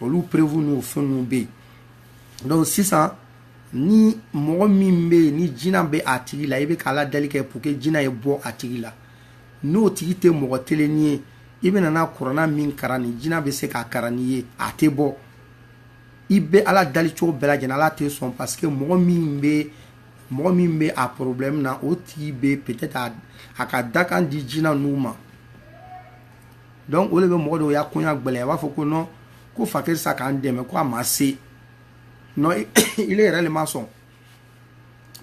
olu perewu n'u fɛn ninnu bɛ yen donc sisan ni mɔgɔ min bɛ yen ni jinɛ bɛ a tigi la i bɛ k'ala dali kɛ pour que jinɛ ye bɔ a tigi la n'o tigi tɛ mɔgɔ telennin ye i bɛna na kurana min karan ni jina bɛ se k'a karan n'i ye a tɛ bɔ i bɛ ala dalicogo bɛɛ lajɛlen ala tɛ sɔn parce que mɔgɔ min bɛ mɔgɔ min bɛ a problème na o tigi bɛ peut-être a, a ka dakan di jina ninnu ma donc o le bɛ mɔgɔ dɔw ya koɲa gbɛlɛya a b'a fɔ ko non ko fakiri sa k'an dɛmɛ ko a ma se non ile yɛrɛ le ma sɔn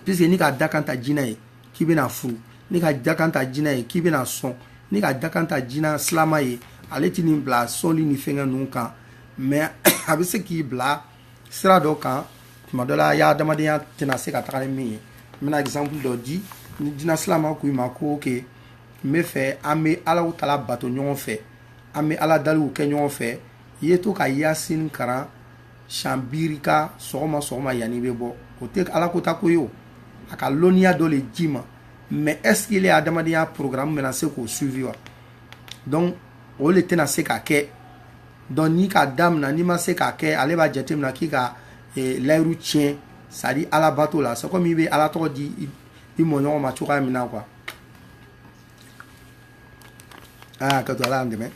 puisque n'i ka dakan ta jinɛ ye k'i bɛna furu n'i ka dakan ta jinɛ ye k'i bɛna sɔn n'i ka dakan ta jinɛ silama ye ale tin'i bila sɔnli ni fɛngɛ ninnu kan mais a bɛ se k'i bila sira dɔ kan tuma dɔ la i ya adamadenya tɛna se ka taga ni min ye n bɛna exemple dɔ di ni jinɛ silama ko i ma ko ok n b'a fɛ an bɛ alahu taala bato ɲɔgɔn fɛ an bɛ ala daliw kɛ ɲɔgɔn fɛ i ye to ka yasin karan siɲɛ biyirika sɔgɔma sɔgɔma yanni i bɛ bɔ o tɛ ala ko ta ko ye o a ka lɔnniya dɔ le d'i ma mais est-ce qu'ile ya adamadenya programme bɛna se k'o suivi wa donc o le tɛna se ka kɛ donc n'i k'a damina n'i ma se k'a kɛ ale b'a jate mina k'i ka eh, layiru tiɲɛ c'est-à-dire ala bato la c'est comme i bɛ ala tɔgɔ di i, i mɔɲɔgɔn ma cogoya min na quoi aa ka to ala y'an dɛmɛ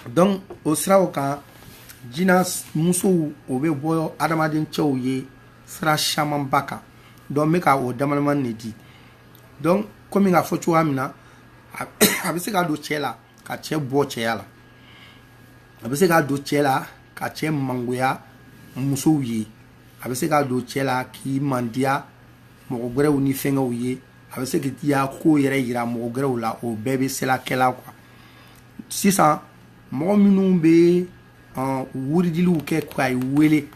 donc o siraw kan jina musow o bɛ bɔ adamaden cɛw ye sira camanba kan donc n bɛ ka o damadamani de di donc komi k'a fɔ cogoya min na a bɛ se ka don cɛ la ka cɛ bɔ cɛya la a bɛ se ka don cɛ la ka cɛ mangoya musow ye a bɛ se ka don cɛ la k'i mandiya mɔgɔ gɛrɛw ni fɛngɛw ye a bɛ se k'i ya ko yɛrɛ yira mɔgɔ gɛrɛw la o bɛɛ bɛ sela kɛla quoi sisan mɔgɔ minnu bɛ wuridiliw kɛ k'ayi wele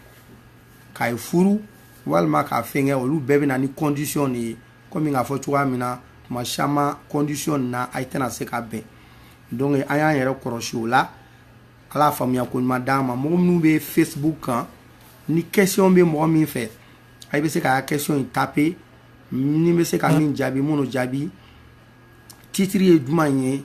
k'ayi furu walima k'a fɛngɛ olu bɛɛ bɛ na ni condition de ye kɔmi k'a fɔ cogoya min na tuma caman condition na a tɛna se ka bɛn donc an y'an yɛrɛ kɔlɔsi o la ala faamuya ko ɲuman d'an ma mɔgɔ minnu bɛ facebook kan ni question bɛ mɔgɔ min fɛ a bɛ se k'a question in taper ni n bɛ se ka min jaabi minnu jaabi titre ye jumɛn ye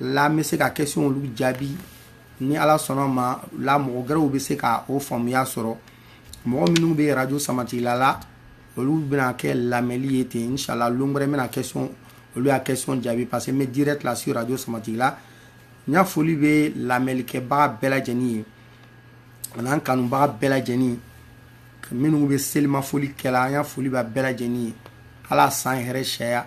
la n bɛ se ka question olu jaabi ni ala sɔnna ma la mɔgɔ gɛrɛw bɛ se ka o faamuya sɔrɔ mɔgɔ minnu bɛ radio samatigila la olu bɛna kɛ lamɛnli ye ten inshallah lon wɛrɛ n bɛna question olu ya question jaabi parce que n bɛ direct là sur radio samatigila n ya foli bɛ lamɛnlikɛbaga bɛɛ lajɛlen ye an'an kanubaga bɛɛ lajɛlen minnu bɛ selimafoli kɛla an ya foli bɛ bɛɛ lajɛlen ye ala san hɛrɛ siyaya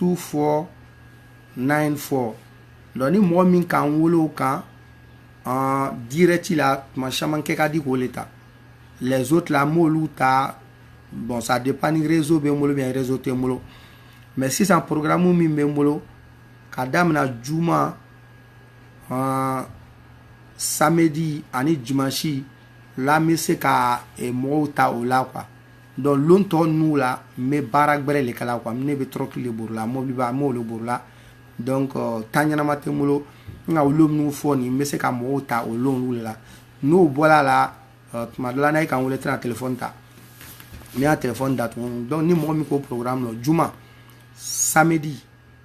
2494 donc ni mɔgɔ min k'an wele o kan direct la tuma caman kɛ ka di k'o le ta les autres là n b'olu ta bon ça dépend ni réseau bɛ n bolo bien réseau tɛ n bolo mais sisan programme min bɛ n bolo ka damina juma samedi ani dimanche la n bɛ se ka mɔgɔw ta o la quoi donc lon tɔ ninnu la n bɛ baara gbɛrɛ le kɛla quoi ne bɛ tɔrɔki le borila mɔbiliba n b'o le borila donc temps ɲɛnama tɛ n bolo nka o lon minnu fɔ nin n bɛ se ka mɔgɔw ta o lon olu le la n'o bɔra a la tuma dɔ la n'i ye ka n weele tɛna téléphone ta n y'a téléphone datugu donc ni mɔgɔ min k'o programme lɔn juma samedi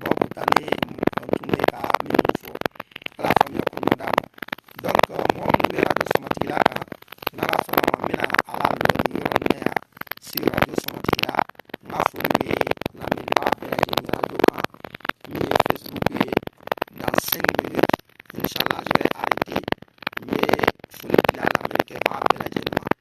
boobu tane tontu ne ka minnu fɔ ala faamuya ko ma d'a ma donc mɔgɔ minnu bɛ radio sɔmatigila kan n'ala sɔnna ma n bɛna a lalɔ nin yɔrɔ nin na yan si radio sɔmatigila n ka foli bɛ lamɛnbaa bɛɛ lajɛlen radio kan min ye facebook ye dans cinq minutes inchallah je vais arrêter n bɛ foli bila lamɛnkɛbaa bɛɛ lajɛlen ma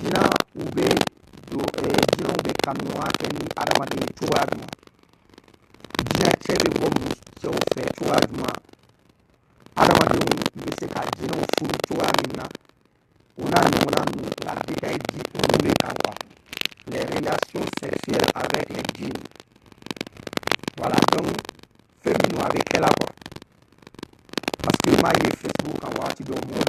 Jinaw bɛ don jinaw bɛ kanuya kɛ ni adamaden ye cogoya jumɛn jina cɛ bɛ bɔ musow fɛ cogoya jumɛn adamadenw bɛ se ka jinaw furu cogoya min na o n'a ɲɔgɔnna ninnu la détail di olu de kan quoi les relations sexuelles avec les djinns voilà donc fɛn min don a bɛ kɛ la quoi parce que n b'a ye facebook kan wagati dɔw mɔgɔ